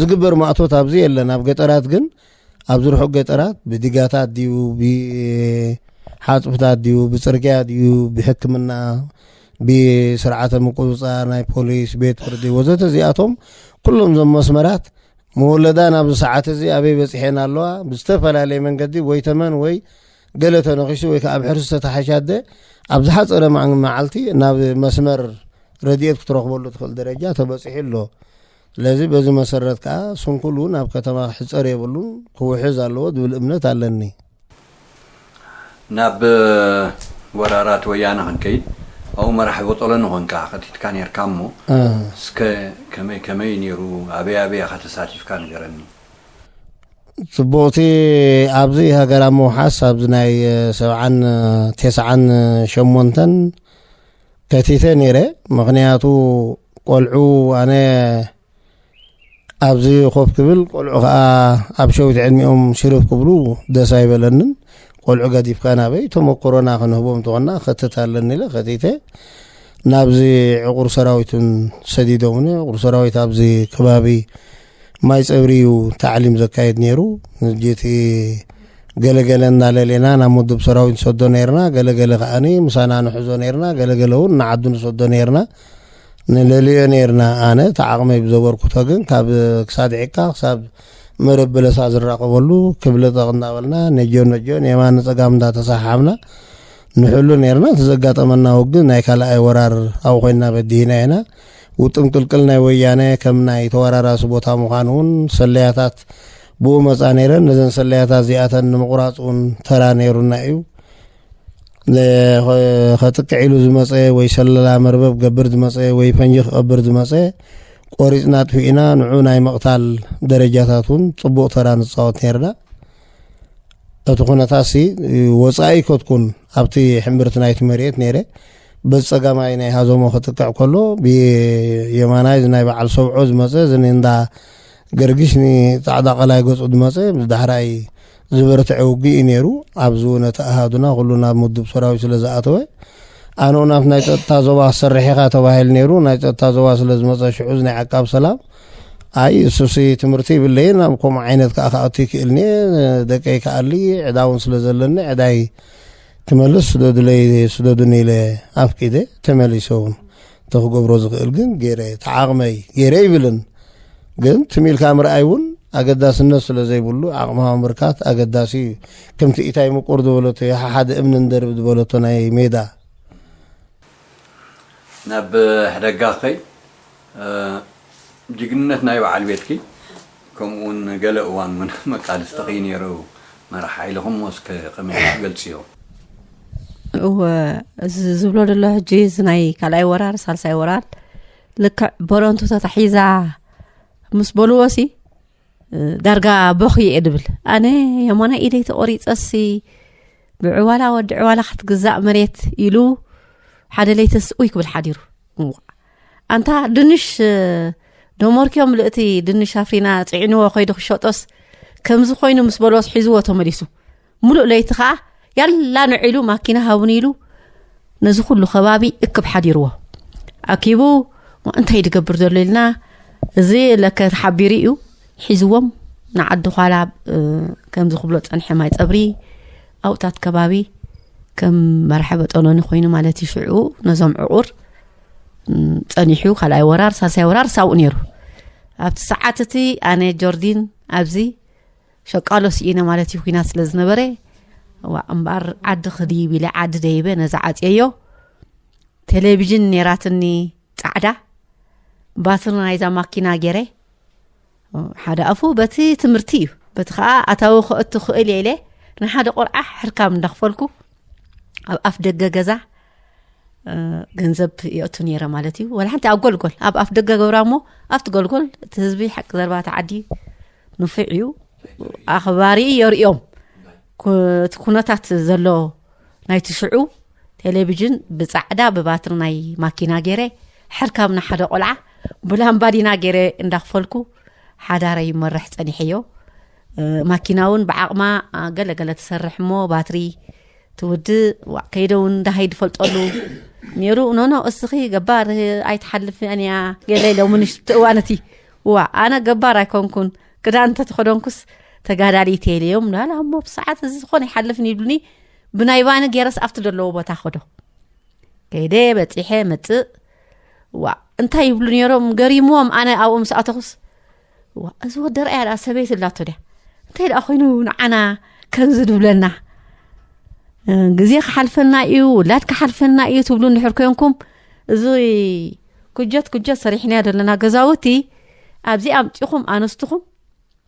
ዝግበር ማእቶት ኣብዚ የለን ኣብ ገጠራት ግን ኣብዚ ርሑቅ ገጠራት ብዲጋታት ድዩ ብሓፅብታት ድዩ ብፅርግያ ድዩ ብሕክምና ብስርዓተ ምቁፅፃር ናይ ፖሊስ ቤት ፍርዲ ወዘተ እዚኣቶም ኩሎም እዞም መስመራት መወለዳ ናብዚ ሰዓት እዚ ኣበይ በጺሐን ኣለዋ ብዝተፈላለየ መንገዲ ወይ ተመን ወይ ገለ ተነኺሱ ወይ ከዓ ብሕርሲ ዝተተሓሸ ኣደ ኣብ ዝሓፀረ መዓልቲ ናብ መስመር ረድኤት ክትረኽበሉ ትኽእል ደረጃ ተበፂሑ ኣሎ ስለዚ በዚ መሰረት ከዓ ስንኩል እውን ኣብ ከተማ ክሕፀር የብሉን ክውሕዝ ኣለዎ ዝብል እምነት ኣለኒ ናብ ወራራት ወያነ ክንከይድ ኣብኡ መራሒ ቦጦሎኒ ኮንካ ከቲትካ ኔርካ እሞ እስከ ከመይ ከመይ እዩ ኔሩ ኣበይ ኣበይ ኢኻ ተሳቲፍካ ንገረኒ። ጽቡቕቲ ኣብዚ ሃገር ኣብ ምውሓስ ኣብዚ ናይ ሰብዓን ቴስዓን ሸሞንተን ከቲተ ኔረ ምኽንያቱ ቆልዑ ኣነ ኣብዚ ኮፍ ክብል ቆልዑ ከዓ ኣብ ሸዊት ዕድሚኦም ሽርብ ክብሉ ደስ ኣይበለንን ቆልዑ ገዲፍካ ናበይ ተመክሮና ክንህቦም ተኾና ከትት ኣለኒ ኢለ ከቲተ ናብዚ ዕቑር ሰራዊትን ሰዲዶምኒ ዕቑር ሰራዊት ኣብዚ ከባቢ ማይ ፀብሪ እዩ ታዕሊም ዘካየድ ነይሩ ንጅቲ ገለገለ እናለሌና ናብ ምዱብ ሰራዊት ንሰዶ ነርና ገለገለ ከዓኒ ምሳና ንሕዞ ነርና ገለገለ እውን ንዓዱ ንሰዶ ነርና ንለልዮ ነይርና ኣነ እቲ ዓቕመይ ብዘበርክቶ ግን ካብ ክሳድ ዒካ ክሳብ መረብ በለሳ ዝራቐበሉ ክብለጠቕ እናበልና ነጆን ነጆን የማን ንፀጋም እንዳተሰሓሓብና ንሕሉ ነይርና እቲ ዘጋጠመና ውግን ናይ ካልኣይ ወራር ኣብ ኮይንና በዲህና ኢና ውጥም ቅልቅል ናይ ወያነ ከም ናይ ተወራራሲ ቦታ ምዃን እውን ሰለያታት ብኡ መፃ ነይረን ነዘን ሰለያታት እዚኣተን ንምቑራፅ እውን ተራ ነይሩና እዩ ከጥቅዕ ኢሉ ዝመፀ ወይ ሰለላ መርበብ ገብር ዝመፀ ወይ ፈንጂ ክቐብር ዝመፀ ቆሪፅና ኣጥፊእና ንዑ ናይ መቕታል ደረጃታት እውን ፅቡቕ ተራ ንፃወት ነርና እቲ ኩነታት ሲ ወፃኢ ከትኩን ኣብቲ ሕምብርቲ ናይቲ መሬት ነይረ በዚ ፀጋማይ ናይ ሃዘሞ ክጥቅዕ ከሎ ብየማናይ ናይ በዓል ሰብዖ ዝመፀ እዚ እንዳ ገርጊሽ ንጻዕዳ ቀላይ ገጹ ድመጸ ምስ ዳሕራይ ዝበረትዐ ውግእ እዩ ነይሩ። ኣብዚ እውን እቲ ኣሃዱና ኩሉ ናብ ምዱብ ሰራዊት ስለ ዝኣተወ ኣነ እውን ኣብቲ ናይ ጸጥታ ዞባ ክትሰርሕ ኢኻ ተባሂል ነይሩ። ናይ ጸጥታ ዞባ ስለ ዝመጸ ሽዑዝ ናይ ዓቃብ ሰላም ኣይ እሱሲ ትምህርቲ ይብለይን ኣብ ከምኡ ዓይነት ከዓ ክኣቱ ይክእልኒ ደቀይ ክኣሊ ዕዳ እውን ስለ ዘለኒ ዕዳይ ክመልስ ስደዱለይ ስደዱኒ ኢለ ኣፍቂደ ተመሊሰ እውን እንተ ክገብሮ ዝኽእል ግን ገይረ ተዓቕመይ ገይረ ይብልን ግን ትሚልካ ምርኣይ እውን ኣገዳስነት ስለ ዘይብሉ ዓቕሚ ምብርካት ኣገዳሲ እዩ ከምቲ ኢታይ ምቁር ዝበለቶ የሓሓደ እምኒ ንደርብ ዝበለቶ ናይ ሜዳ ናብ ሕደጋ ከይ ጅግንነት ናይ በዓል ቤትኪ ከምኡ ውን ገለ እዋን ውን መቃልስትኺ ነይሩ መራሕ ሓይልኹሞ እስከ ከመይ ኢልኪ ገልጽዮ። እወ እዚ ዝብሎ ደሎ ሕጂ እዚ ናይ ካልኣይ ወራር ሳልሳይ ወራር ልክዕ በረንቱ ተታሒዛ ምስ በልዎሲ ዳርጋ ቦኽ እየ ድብል ኣነ የማና ኢደይ ተቆሪፀሲ ብዕዋላ ወዲ ዕዋላ ክትግዛእ መሬት ኢሉ ሓደ ለይተስ ኡይ ክብል ሓዲሩ ኣንታ ድንሽ ዶሞርክዮ ምልእቲ ድንሽ ኣፍሪና ፅዒንዎ ከይዱ ክሸጦስ ከምዚ ኮይኑ ምስ በሎስ ሒዝዎ ተመሊሱ ሙሉእ ለይቲ ከዓ ያላ ንዒሉ ማኪና ሃውኒ ኢሉ ነዚ ኩሉ ከባቢ እክብ ሓዲርዎ ኣኪቡ እንታይ ድገብር ዘሎ ኢልና እዚ ለከ ተሓቢሩ እዩ ሒዝዎም ንዓዲ ኋላ ከምዚ ክብሎ ፀንሐ ማይ ፀብሪ ኣብታት ከባቢ ከም መርሐ በጠሎኒ ኮይኑ ማለት እዩ ሽዑ ነዞም ዕቑር ጸኒሑ ካልኣይ ወራር ሳልሳይ ወራር ሳብኡ ነይሩ ኣብቲ ሰዓት እቲ ኣነ ጆርዲን ኣብዚ ሸቃሎ ስኢነ ማለት እዩ ኩናት ስለ ዝነበረ ዋ እምበኣር ዓዲ ክድይብ ኢለ ዓዲ ደይበ ነዛ ዓፅየዮ ቴሌቭዥን ነይራትኒ ፃዕዳ ባትሪ ናይዛ ማኪና ገይረ ሓደ ኣፉ በቲ ትምህርቲ እዩ በቲ ከዓ ኣታዊ ክእቱ ክእል እየ ኢለ ንሓደ ቆልዓ ሕርካም እንዳኽፈልኩ ኣብ ኣፍ ደገ ገዛ ገንዘብ የእቱ ነረ ማለት እዩ ወላ ሓንቲ ኣብ ጎልጎል ኣብ ኣፍ ደገ ገብራ እሞ ኣብቲ ጎልጎል እቲ ህዝቢ ሓቂ ዘርባ ተዓዲ ንፍዕ እዩ ኣኽባሪ የርእዮም እቲ ኩነታት ዘሎ ናይቲ ሽዑ ቴሌቭዥን ብፃዕዳ ብባትሪ ናይ ማኪና ገይረ ሕርካብ ንሓደ ቆልዓ ብላምባዲና ገይረ እንዳክፈልኩ ሓዳረ ይመርሕ ፀኒሐዮ ማኪና እውን ብዓቕማ ገለገለ ትሰርሕ እሞ ባትሪ ትውድእ ዋእ ከይደ እውን ዳሃይ ድፈልጠሉ ነይሩ ኖኖ እስኺ ገባር ኣይትሓልፍን እያ ገለ ኢሎምንሽ ትእዋነቲ ዋ ኣነ ገባር ኣይኮንኩን ክዳን እንተተኸደንኩስ ተጋዳሊት እየ ኢለዮም ናላ እሞ ብሰዓት እዚ ዝኾነ ይሓልፍን ይብሉኒ ብናይ ባኒ ገይረስ ኣብቲ ዘለዎ ቦታ ኸዶ ከይደ በፂሐ መፅእ ዋ እንታይ ይብሉ ነይሮም ገሪምዎም ኣነ ኣብኡ ምስ ኣተኹስ እዋ እዚ ወዲ ርኣያ ድኣ ሰበይቲ ኣላቶ ድያ እንታይ ደኣ ኮይኑ ንዓና ከምዚ ድብለና ግዜ ክሓልፈና እዩ ውላድ ክሓልፈና እዩ ትብሉ እንድሕር ኮንኩም እዚ ኩጀት ኩጀት ሰሪሕናዮ ዘለና ገዛውቲ ኣብዚ ኣምፂኹም ኣነስትኹም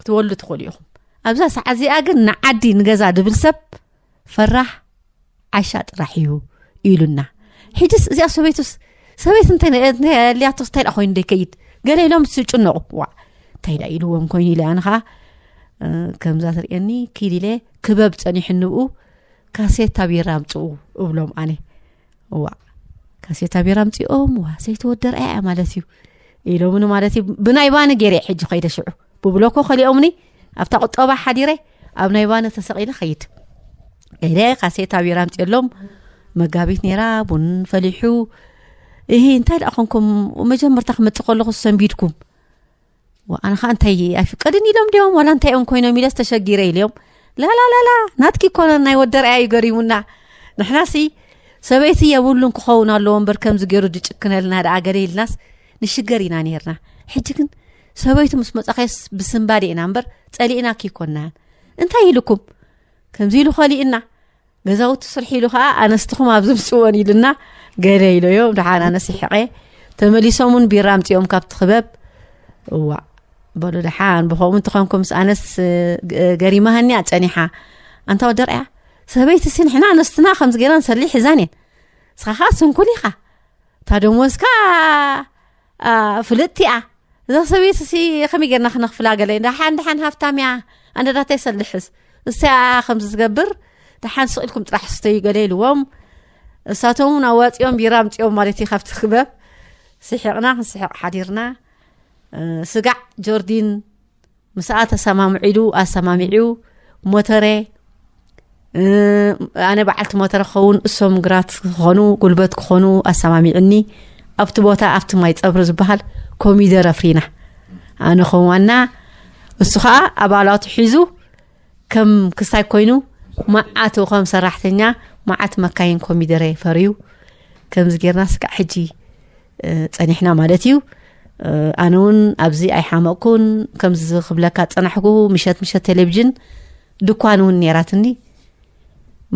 ክትወሉ ትኽእሉ ኢኹም ኣብዛ ሰዓት እዚኣ ግን ንዓዲ ንገዛ ድብል ሰብ ፈራሕ ዓሻ ጥራሕ እዩ ኢሉና ሕጅስ እዚኣ ሰበይቱስ ሰበይት እንተልያቶስ እንታይ ዳ ኮይኑ ደይከይድ ገለ ኢሎም ዝጭነቑ ዋ እንታይ ዳ ኢልዎም ኮይኑ ኢለ ኣነ ከዓ ከምዛ ትርእየኒ ክድ ኢለ ክበብ ፀኒሑ ንብኡ ካሴታ ቢራ ኣምፅኡ እብሎም ኣነ እዋ ካሴታ ቢራ ኣምፅኦም ዋ ሰይተወደርኣያ ማለት እዩ ኢሎምኒ ማለት እዩ ብናይ ባኒ ገይረ ሕጂ ከይደ ሽዑ ብብሎኮ ከሊኦምኒ ኣብታ ቁጠባ ሓዲረ ኣብ ናይ ባነ ተሰቂለ ከይድ ገለ ካሴታ ቢራ ምፅሎም መጋቢት ነራ ቡን ፈሊሑ እሂ እንታይ ደኣ ኮንኩም መጀመርታ ክመፅእ ከለኹ ሰንቢድኩም ኣነ ከዓ እንታይ ኣይፍቀድን ኢሎም ድዮም ዋላ እንታይ እዮም ኮይኖም ኢለ ዝተሸጊረ ኢልዮም ላላላላ ናትኪ ኮነ ናይ ወደርኣያ እዩ ገሪሙና ንሕና ሲ ሰበይቲ የብሉን ክኸውን ኣለዎ እምበር ከምዚ ገይሩ ድጭክነልና ደኣ ገለ ኢልናስ ንሽገር ኢና ነርና ሕጂ ግን ሰበይቱ ምስ መጻኸስ ብስምባድ ኢና እምበር ጸሊእና ክይኮንናያን እንታይ ኢሉኩም ከምዚ ኢሉ ኸሊእና ገዛውቲ ስርሒ ኢሉ ከዓ ኣነስትኹም ኣብ ዝምፅዎን ኢሉና ገለ ኢሎዮ ድሓን ኣነስ ይሕቐ ተመሊሶም እውን ቢራ ኣምፅኦም ካብቲ ክበብ እዋ በሉ ድሓን ብከምኡ እንትኾንኩም ምስ ኣነስ ገሪማሃኒያ ፀኒሓ ኣንታ ወደርያ ሰበይቲ ሲ ንሕና ኣነስትና ከምዚ ገይራ ንሰሊ ሒዛን እየን ንስኻ ከዓ ስንኩል ኢኻ እታ ደሞዝካ ፍልጥቲያ እዛ ሰብት ሲ ከመይ ገርና ክነክፍላ ገለ ሓን ድሓን ሃፍታም እያ ኣነዳታይ ሰልሕስ እሰያ ከምዚ ዝገብር ድሓን ስቅኢልኩም ጥራሕ ስተዩ ገለ ኢልዎም እሳቶም ውን ኣዋፂኦም ቢራ ምፅኦም ማለት እዩ ካብቲ ክበብ ስሕቕና ክንስሕቕ ሓዲርና ስጋዕ ጆርዲን ምስኣ ተሰማምዑ ኢሉ ኣሰማሚዑ ሞተረ ኣነ በዓልቲ ሞተረ ክኸውን እሶም ግራት ክኾኑ ጉልበት ክኾኑ ኣሰማሚዑኒ ኣብቲ ቦታ ኣብቲ ማይ ፀብሪ ዝበሃል ኮሚደረ ፍሪና ኣነ ከም ዋና እሱ ከዓ ኣባላቱ ሒዙ ከም ክስታይ ኮይኑ መዓት ከም ሰራሕተኛ መዓት መካይን ኮሚደረ ፈርዩ ከምዚ ጌርና ስጋዕ ሕጂ ጸኒሕና ማለት እዩ ኣነ እውን ኣብዚ ኣይሓመቕኩን ከምዚ ክብለካ ፀናሕኩ ምሸት ምሸት ቴሌቭዥን ድኳን እውን ነራትኒ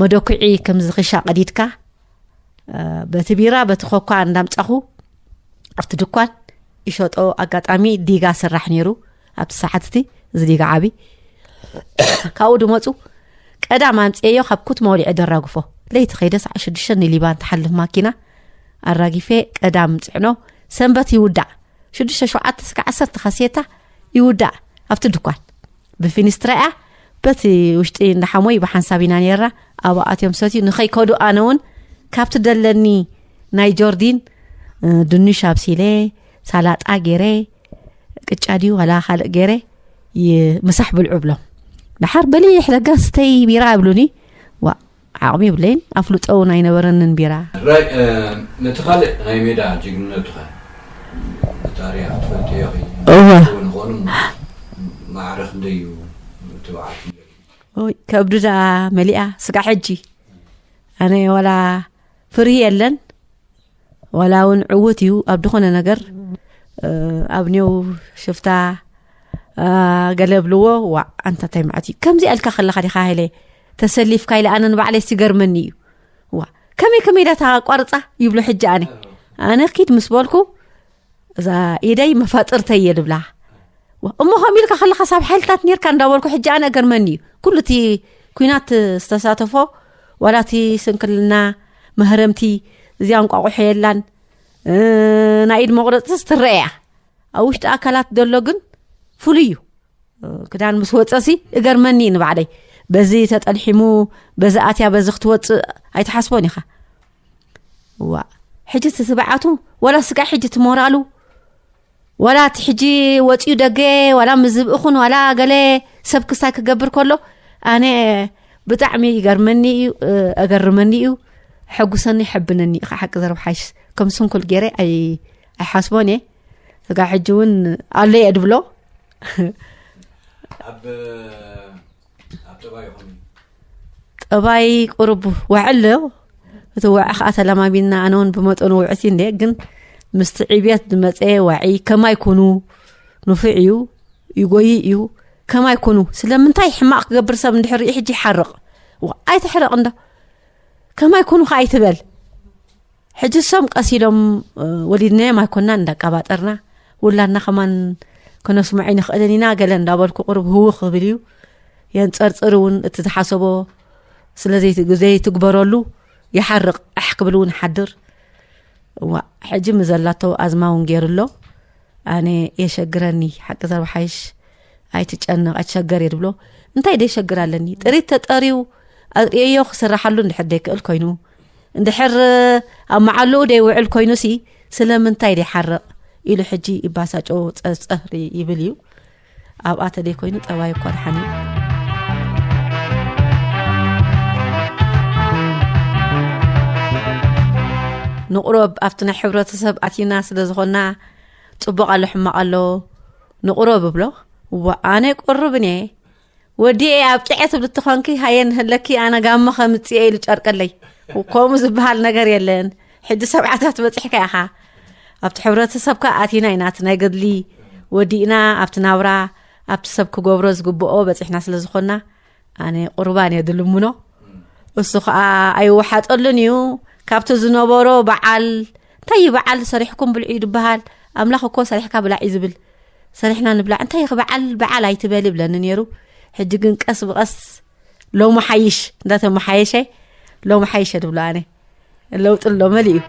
መደኩዒ ከምዚ ክሻ ቀዲድካ በቲ ቢራ በቲ ኮኳ እንዳምፃኹ ኣብቲ ድኳን ይሸጦ ኣጋጣሚ ዲጋ ስራሕ ነይሩ ኣብቲ ሰዓት እቲ ዝዲጋ ዓቢ ካብኡ ድመፁ ቀዳም ኣምፅኤዮ ካብ ኩትማ ወሊዐ ደራግፎ ለይቲ ከይደ ሰዓ ሽዱሽተ ንሊባን ትሓልፍ ማኪና ኣራጊፌ ቀዳም ፅዕኖ ሰንበት ይውዳእ ሽዱሽተ ሸውዓተ ስጋዕ ዓሰርተ ካሴታ ይውዳእ ኣብቲ ድኳን ብፊኒስትራ እያ በቲ ውሽጢ እንዳሓሞይ ብሓንሳብ ኢና ነራ ኣብ ኣትዮም ሰትዩ ንኸይከዱ ኣነ እውን ካብቲ ደለኒ ናይ ጆርዲን ድንሽ ኣብሲለ ሳላጣ ገይረ ቅጫ ድዩ ዋላ ካልእ ገይረ ምሳሕ ብልዑ ብሎም ድሓር በሊሕ ለጋስተይ ቢራ ይብሉኒ ዋ ዓቕሚ ይብለይን ኣፍልጦ እውን ኣይነበረንን ቢራ ነቲ ካልእ ናይ ሜዳ ጅግንነቱ ከ ብታሪክ ትፈልጥዮ ንኾኑ ማዕረ ክንደይ እዩ ትብዓት ከብድዳ መሊኣ ስጋ ሕጂ ኣነ ዋላ ፍርሂ የለን ዋላ እውን ዕውት እዩ ኣብ ዝኾነ ነገር ኣብ ኔው ሽፍታ ገለ ብልዎ ዋ ኣንታ እንታይ መዓት እዩ ከምዚ ኣልካ ከለካ ዲካ ሃይለ ተሰሊፍካ ኢለ ኣነ ንባዕለይ ሲገርመኒ እዩ ዋ ከመይ ከመይ ዳታ ቋርፃ ይብሎ ሕጂ ኣነ ኣነ ኪድ ምስ በልኩ እዛ ኢደይ መፋጥርተይ እየ ድብላ እሞ ከምኡ ኢልካ ከለካ ሳብ ሓይልታት ነርካ እንዳበልኩ ሕጂ ኣነ ገርመኒ እዩ ኩሉ እቲ ኩናት ዝተሳተፎ ዋላ እቲ ስንክልና መህረምቲ እዚኣ እንቋቑሖ የላን ናይ ኢድ መቑረፂ ዝትረአ እያ ኣብ ውሽጢ ኣካላት ዘሎ ግን ፍሉይ እዩ ክዳን ምስ ወፀሲ እገርመኒ እዩ ንባዕለይ በዚ ተጠልሒሙ በዚ ኣትያ በዚ ክትወፅእ ኣይትሓስቦን ኢኻ እዋ ሕጂ እቲ ትብዓቱ ዋላ ስጋዕ ሕጂ ትሞራሉ ዋላ እቲ ሕጂ ወፅኡ ደገ ዋላ ምዝብእኹን ዋላ ገለ ሰብ ክስታይ ክገብር ከሎ ኣነ ብጣዕሚ ይገርመኒ እዩ ኣገርመኒ እዩ ሕጉሰኒ ይሕብነኒ እዩ ሓቂ ዘረብ ሓይሽ ከም ስንኩል ገይረ ኣይሓስቦን እየ እጋ ሕጂ እውን ኣሎ እየ ድብሎ ጠባይ ቁርብ ውዕል ዶ እቲ ውዕ ከዓ ተለማሚድና ኣነ እውን ብመጠኑ ውዕቲ እንደ ግን ምስቲ ዕብየት ዝመፀ ዋዒ ከማይ ኩኑ ንፉዕ እዩ ይጎይ እዩ ከማይ ኩኑ ስለምንታይ ሕማቅ ክገብር ሰብ እንድሕር ሕጂ ይሓርቕ ኣይትሕረቕ እንዶ ከማይ ኩኑ ከዓ ኣይትበል ሕጂ ሶም ቀስ ኢሎም ወሊድናዮም ኣይኮናን እንዳቃባጠርና ውላድና ከማን ከነስምዖ ኣይንኽእልን ኢና ገለ እንዳበልኩ ቅሩብ ህውኽ ክብል እዩ የንፀርፅር እውን እቲ ዝሓሰቦ ስለዘይትግበረሉ ይሓርቕ ኣሕ ክብል እውን ሓድር እዋ ሕጂ ምዘላቶ ኣዝማ እውን ገይሩ ኣሎ ኣነ የሸግረኒ ሓቂ ዘርባሓይሽ ኣይትጨነቕ ኣይትሸገር እየ ድብሎ እንታይ ደይሸግር ኣለኒ ጥሪት ተጠርዩ ኣርእየዮ ክስራሓሉ እንድሕር ደይክእል ኮይኑ እንድሕር ኣብ መዓልኡ ደይውዕል ኮይኑሲ ስለምንታይ ደይሓርቕ ኢሉ ሕጂ ይባሳጮ ፀርፀሪ ይብል እዩ ኣብኣ ተደይ ኮይኑ ጠባይ እኳ ድሓን እዩ ንቑረብ ኣብቲ ናይ ሕብረተሰብ ኣቲና ስለ ዝኾና ፅቡቕ ኣሎ ሕማቕ ኣሎ ንቑረብ እብሎ እዋ ኣነ ቁርብን እየ ወዲኤ ኣብቂዐ ትብሊ ተኾንኪ ሃየ ንህለኪ ኣነ ጋሞ ከምፅኤ ኢሉ ጨርቀለይ ከምኡ ዝበሃል ነገር የለን ሕጂ ሰብዓታት በፂሕካ ኢኻ ኣብቲ ሕብረተሰብካ ኣቲና ኢና እቲ ናይ ገድሊ ወዲእና ኣብቲ ናብራ ኣብቲ ሰብ ክገብሮ ዝግብኦ በፂሕና ስለ ዝኾንና ኣነ ቁርባን እየ ድልምኖ እሱ ከዓ ኣይወሓጠሉን እዩ ካብቲ ዝነበሮ በዓል እንታይ እዩ በዓል ሰሪሕኩም ብልዑ እዩ ድበሃል ኣምላኽ እኮ ሰሪሕካ ብላዕ እዩ ዝብል ሰሪሕና ንብላዕ እንታይ ኽ በዓል በዓል ኣይትበል ይብለኒ ነይሩ ሕጂ ግን ቀስ ብቐስ ሎሚ ሓይሽ እንዳተመሓየሸ ሎሚ ሓይሸ ትብሎ ኣነ ለውጢ ኣሎ መሊ እዩ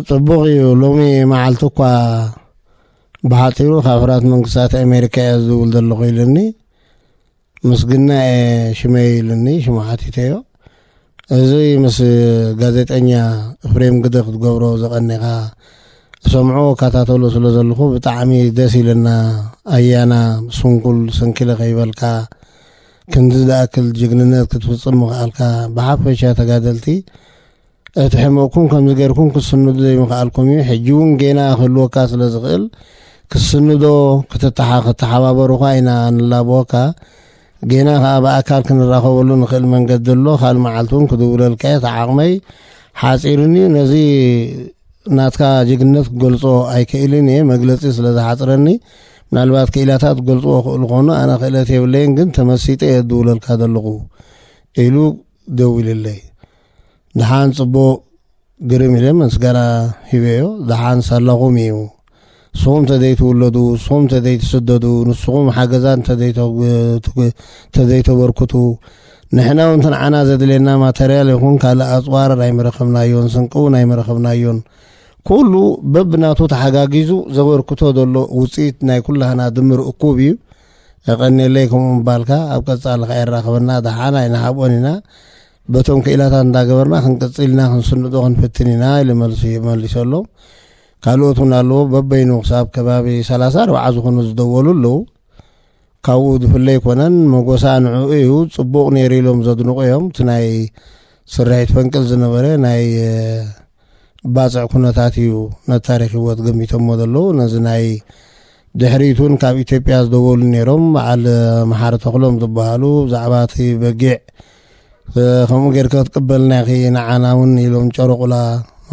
ጽቡቕ እዩ ሎሚ መዓልቲ እኳ ብሓፂሩ ካብ ሕራት መንግስታት ኣሜሪካ እየ ዝብል ዘለኹ ኢልኒ ምስግና እየ ሽመይ ኢልኒ ሽማሓቲተ እዮ እዚ ምስ ጋዜጠኛ ፍሬም ግደ ክትገብሮ ዝቐኒኻ ሰምዑ ከታተሉ ስለ ዘለኹ ብጣዕሚ ደስ ኢለና ኣያና ስንኩል ስንኪለ ከይበልካ ክንዲ ዝኣክል ጅግንነት ክትፍጽም ምኽኣልካ ብሓፈሻ ተጋደልቲ እቲ ሕመቕኩም ከምዚ ጌርኩም ክስንዱ ዘይምኽኣልኩም እዩ ሕጂ እውን ጌና ክህልወካ ስለ ዝኽእል ክስንዶ ክተሓባበሩኻ ኢና ንላበወካ ጌና ከዓ ብኣካል ክንራኸበሉ ንኽእል መንገዲ ኣሎ ካል መዓልቲ እውን ክድውለልካ እየ ተዓቕመይ ሓፂርን እዩ ነዚ ናትካ ጅግነት ክገልፆ ኣይክእልን እየ መግለፂ ስለ ዝሓፅረኒ ምናልባት ክኢላታት ክገልጽዎ ክእሉ ኮኑ ኣነ ክእለት የብለይን ግን ተመሲጠ እየ ድውለልካ ዘለኹ ኢሉ ደዊልለይ ድሓን ጽቡቅ ግርም ኢለ መስገራ ሂበዮ ድሓን ሳላኹም እዩ ንስኹም ተዘይትውለዱ ንስኹም ተዘይትስደዱ ንስኹም ሓገዛ እንተዘይተበርክቱ ንሕና እውን ትንዓና ዘድልየና ማተርያል ይኹን ካልእ ኣፅዋር ኣይምረኸብናዮን ስንቂ እውን ኣይምረኸብናዮን ኩሉ በብናቱ ተሓጋጊዙ ዘበርክቶ ዘሎ ውፅኢት ናይ ኩላህና ድምር እኩብ እዩ። የቐኔለይ ከምኡ ምባልካ ኣብ ቀጻሊ ከ የራኽበና ደሓን ኣይንሃብኦን ኢና በቶም ክኢላታት እንዳገበርና ክንቅጽል ኢና ክንስንዶ ክንፍትን ኢና ኢሉ መልሱ መሊሰሎም ካልኦት እውን ኣለዎ በበይኑ ክሳብ ከባቢ ሰላሳ ኣርባዓ ዝኾኑ ዝደወሉ ኣለዉ ካብኡ ዝፍለ ኣይኮነን መጎሳ ንዕኡ እዩ ጽቡቕ ነይሩ ኢሎም ዘድንቑ እዮም እቲ ናይ ስርሒት ፈንቅል ዝነበረ ናይ ባጽዕ ኩነታት እዩ ነታሪክ ህይወት ገሚቶሞ ዘለዉ ነዚ ናይ ድሕሪት እውን ካብ ኢትዮጵያ ዝደወሉ ነይሮም በዓል መሓሪ ተኽሎም ዝበሃሉ ብዛዕባ እቲ በጊዕ ከምኡ ጌርከ ክትቅበልና ኢኺ ንዓና እውን ኢሎም ጨረቑላ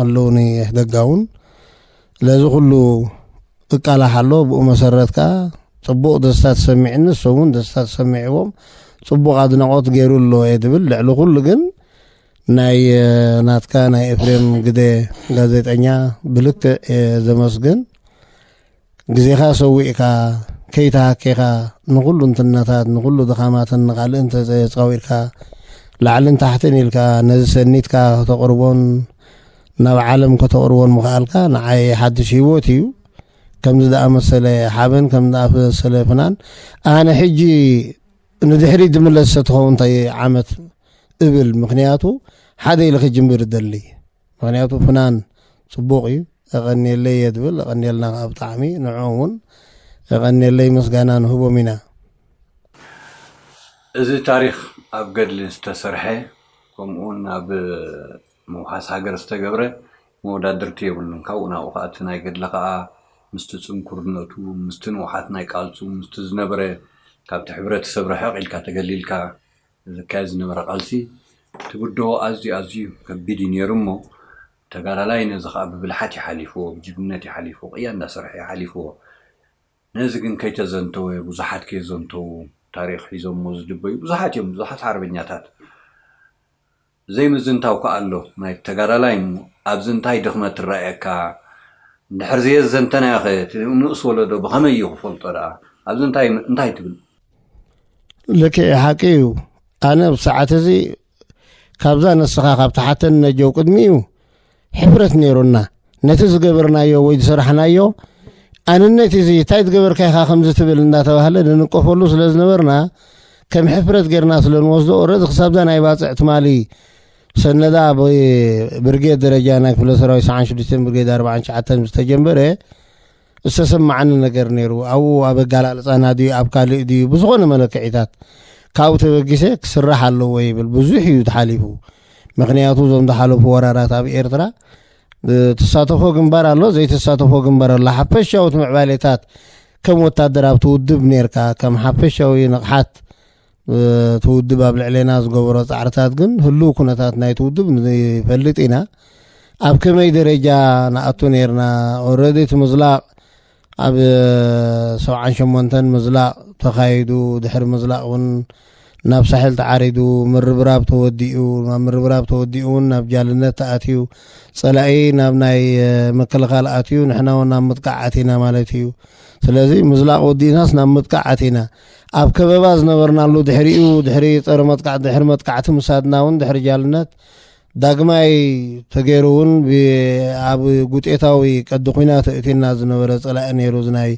ኣለውኒ ደጋ እውን ስለዚ ኩሉ እቃላሕ ኣሎ ብኡ መሰረት ከኣ ጽቡቕ ደስታ ተሰሚዕኒ እሶም እውን ደስታ ተሰሚዕዎም ጽቡቕ ኣድናቖት ገይሩ ኣሎ እየ ድብል ልዕሊ ኩሉ ግን ናይ ናትካ ናይ ኤፍሬም ግደ ጋዜጠኛ ብልክዕ እየ ዘመስግን ግዜኻ ሰዊእካ ከይተሃኬኻ ንኩሉ እንትነታት ንኩሉ ድኻማትን ንቃልእ እንተዘየጻዊርካ ላዕልን ታሕትን ኢልካ ነዚ ሰኒትካ ከተቕርቦን ናብ ዓለም ከተቕርቦን ምኽኣልካ ንዓይ ሓድሽ ህይወት እዩ። ከምዚ ዝኣመሰለ ሓበን፣ ከምዚ ዝኣመሰለ ፍናን ኣነ ሕጂ ንድሕሪት ዝምለስ ተትኸውን እንታይ ዓመት እብል፣ ምኽንያቱ ሓደ ኢለ ክጅምር እደሊ፣ ምኽንያቱ ፍናን ጽቡቕ እዩ። የቐንየለይ እየ ዝብል፣ የቐንየልና ከኣ ብጣዕሚ ንዕኦም እውን የቐንየለይ ምስጋና ንህቦም ኢና። እዚ ታሪኽ ኣብ ገድሊ ዝተሰርሐ ከምኡውን ኣብ ምውሓስ ሃገር ዝተገብረ መወዳድርቲ የብሉን ካብኡ ናብኡ ከኣ እቲ ናይ ገድሊ ከኣ ምስቲ ጽንኩርነቱ ምስቲ ንውሓት ናይ ቃልሱ ምስቲ ዝነበረ ካብቲ ሕብረተሰብ ርሕቅ ኢልካ ተገሊልካ ዝካየድ ዝነበረ ቃልሲ ትብድሆ ኣዝዩ ኣዝዩ ከቢድ እዩ ኔሩ እሞ ተጋዳላይ ነዚ ከኣ ብብልሓት እዩ ሓሊፍዎ ብጅግንነት እዩ ሓሊፍዎ ቅያ እንዳሰርሐ እዩ ሓሊፍዎ ነዚ ግን ከይተዘንተወ ብዙሓት ከየዘንተዉ ታሪኽ ሒዞሞ ዝድበዩ ብዙሓት እዮም ብዙሓት ሓርበኛታት ዘይምዝንታው ክኣ ኣሎ ናይ ተጋዳላይ እሞ ኣብዚ እንታይ ድኽመት ትራኣየካ እንድሕር ዘየዘንተናዮ ከ እቲ ንኡስ ወለዶ ብኸመይ እዩ ክፈልጦ ድኣ ኣብዚ እንታይ እንታይ ትብል። ልክዕ ሓቂ እዩ ኣነ ኣብ ሰዓት እዚ ካብዛ ንስኻ ካብ ትሓተኒ ነጀው ቅድሚኡ ሕብረት ነይሩና ነቲ ዝገበርናዮ ወይ ዝሰራሕናዮ ኣንነት እዚ እንታይ ዝገበርካ ኢኻ ከምዚ ትብል እንዳተባህለ ንንቀፈሉ ስለ ዝነበርና ከም ሕፍረት ጌርና ስለ ንወስዶ ኦረዚ ክሳብዛ ናይ ባፅዕ ትማሊ ሰነዳ ብርጌድ ደረጃ ናይ ክፍለ ሰራዊት ሰዓን ሽዱሽተን ብርጌድ ኣርባዓን ሸዓተን ዝተጀመረ ዝተሰማዓኒ ነገር ነይሩ። ኣብኡ ኣብ ኣገላልጻና ድዩ ኣብ ካልእ ድዩ ብዝኾነ መለክዒታት ካብኡ ተበጊሰ ክስራሕ ኣለዎ ይብል። ብዙሕ እዩ ተሓሊፉ። ምክንያቱ እዞም ዝሓለፉ ወራራት ኣብ ኤርትራ ተሳተፎ ግንባር ኣሎ ዘይተሳተፎ ግንባር ኣሎ ሓፈሻዊ ምዕባሌታት ከም ወታደር ኣብቲ ውድብ ነርካ ከም ሓፈሻዊ ንቕሓት እቲ ውድብ ኣብ ልዕሌና ዝገበሮ ፃዕርታት ግን ህልው ኩነታት ናይቲ ውድብ ንፈልጥ ኢና ኣብ ከመይ ደረጃ ንኣቱ ነርና ኦረዲ እቲ ምዝላቕ ኣብ ሰብዓን ሸሞንተን ምዝላቕ ተኻይዱ ድሕሪ ምዝላቕ እውን ናብ ሳሕል ተዓሪዱ ምርብራብ ተወዲኡ ናብ ምርብራብ ተወዲኡ እውን ናብ ጃልነት ተኣትዩ ፀላኢ ናብ ናይ ምክልኻል ኣትዩ ንሕና እውን ናብ ምጥቃዕ ኣቲና ማለት እዩ ስለዚ ምዝላቕ ወዲእናስ ናብ ምጥቃዕ ኣቲና ኣብ ከበባ ዝነበርናሉ ድሕሪኡ ድሕሪ ፀረ መጥቃዕቲ ድሕሪ መጥቃዕቲ ምሳድና እውን ድሕሪ ጃልነት ዳግማይ ተገይሩ እውን ኣብ ጉጤታዊ ቀዲ ኩናት እእቲና ዝነበረ ፀላኢ ነይሩ ዝናይ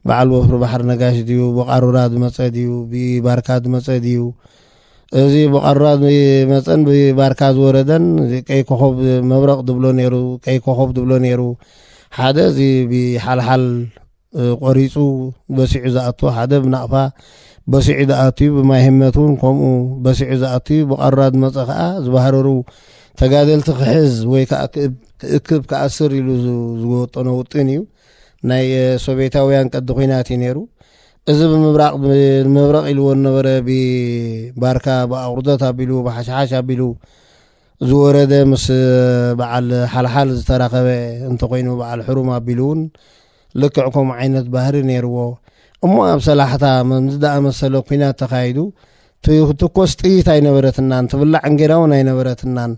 በዓል ወፍሪ ባሕሪ ነጋሽ ድዩ ብቃሩራ ዝመፀ ድዩ ብባርካ ዝመፀ ድዩ እዚ ብቐራ መፀን ብባርካ ዝወረደን ቀይ ኮኸብ መብረቕ ዝብሎ ነይሩ ቀይ ኮኸብ ዝብሎ ነይሩ ሓደ እዚ ብሓልሓል ቆሪጹ በሲዑ ዝኣቱ ሓደ ብናቕፋ በሲዑ ዝኣትዩ ብማይ ህመት እውን ከምኡ በሲዑ ዝኣትዩ ብቐራድ መጸ ከኣ ዝበሃረሩ ተጋደልቲ ክሕዝ ወይ ከዓ ክእክብ ክኣስር ኢሉ ዝወጠኖ ውጥን እዩ ናይ ሶቬታውያን ቀዲ ኩናት እዩ ነይሩ እዚ ብምብራቕ መብረቕ ኢልዎ ዝነበረ ብባርካ ብኣቑርደት ኣቢሉ ብሓሽሓሽ ኣቢሉ እዚ ወረደ ምስ በዓል ሓልሓል ዝተራኸበ እንተኾይኑ በዓል ሕሩም ኣቢሉ እውን ልክዕ ከምኡ ዓይነት ባህሪ ነይርዎ እሞ ኣብ ሰላሕታ መምዚ ዳኣመሰለ ኩናት ተኻይዱ ትኮስ ጥይት ኣይነበረትናን ትብላዕ እንጌራ እውን ኣይነበረትናን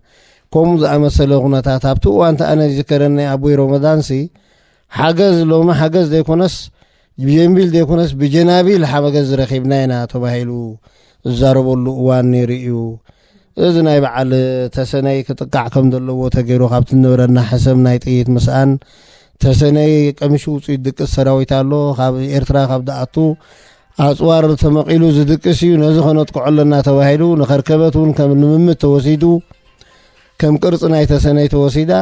ከምኡ ዝኣመሰለ ኩነታት ኣብቲ እዋንቲ ኣነ ዝከረኒ ኣቦይ ሮመዳንሲ ሓገዝ ሎሚ ሓገዝ ዘይኮነስ ብጀንቢል ዘይኮነስ ብጀናቢል ሓመገዝ ረኺብና ኢና ተባሂሉ ዝዛረበሉ እዋን ነይሩ እዩ እዚ ናይ በዓል ተሰነይ ክጥቃዕ ከም ዘለዎ ተገይሩ ካብቲ ንብረና ሕሰም ናይ ጥይት ምስኣን ተሰነይ ቀምሽ ውፅኢት ድቅስ ሰራዊት ኣሎ ካብ ኤርትራ ካብ ዝኣቱ ኣፅዋር ተመቒሉ ዝድቅስ እዩ ነዚ ከነጥቅዖ ኣለና ተባሂሉ ንኸርከበት እውን ከም ልምምድ ተወሲዱ ከም ቅርፂ ናይ ተሰነይ ተወሲዳ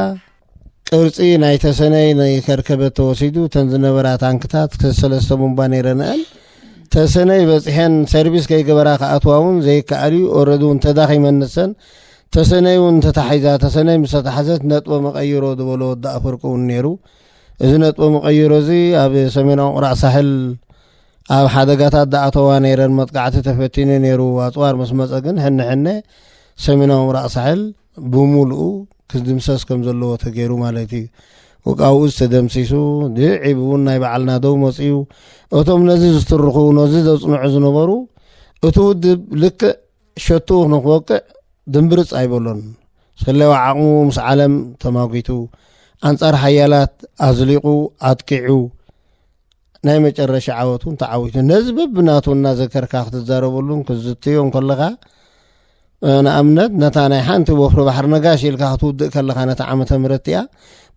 ቅርጺ ናይ ተሰነይ ናይ ከርከበት ተወሲዱ ተን ዝነበራ ታንክታት ክስ ሰለስተ ቡምባ ነይረንኣን ተሰነይ በጽሐን ሰርቪስ ከይገበራ ክኣትዋ እውን ዘይከኣል እዩ ኦረዲ እውን ተዳኺመን ንሰን ተሰነይ እውን ተታሒዛ ተሰነይ ምስ ተታሕዘት ነጥቦ መቐይሮ ዝበሎ ወዲ ኣፈርቂ እውን ነይሩ እዚ ነጥቦ መቐይሮ እዚ ኣብ ሰሜናዊ ቁራዕ ሳሕል ኣብ ሓደጋታት ዳኣተዋ ነይረን መጥቃዕቲ ተፈቲኑ ነይሩ ኣፅዋር ምስ መፀ ግን ሕነ ሕነ ሰሜናዊ ምብራቕ ሳሕል ብምሉኡ ክድምሰስ ከም ዘለዎ ተገይሩ ማለት እዩ ወቃብኡ ዝተደምሲሱ ድዒብ እውን ናይ በዓልና ደው መፅዩ እቶም ነዚ ዝትርኹ ነዚ ዘፅንዑ ዝነበሩ እቲ ውድብ ልክዕ ሸትኡ ንክወቅዕ ድንብርፅ ኣይበሎን ስለዋ ዓቕሙ ምስ ዓለም ተማጒቱ ኣንፃር ሓያላት ኣዝሊቑ ኣጥቂዑ ናይ መጨረሻ ዓወት እውን ተዓዊቱ ነዚ በብናቱ እናዘከርካ ክትዛረበሉን ክትዝትዮ ከለኻ ንኣብነት ነታ ናይ ሓንቲ ወፍሪ ባሕሪ ነጋሽ ኢልካ ክትውድእ ከለኻ ነታ ዓመተ ምረት እያ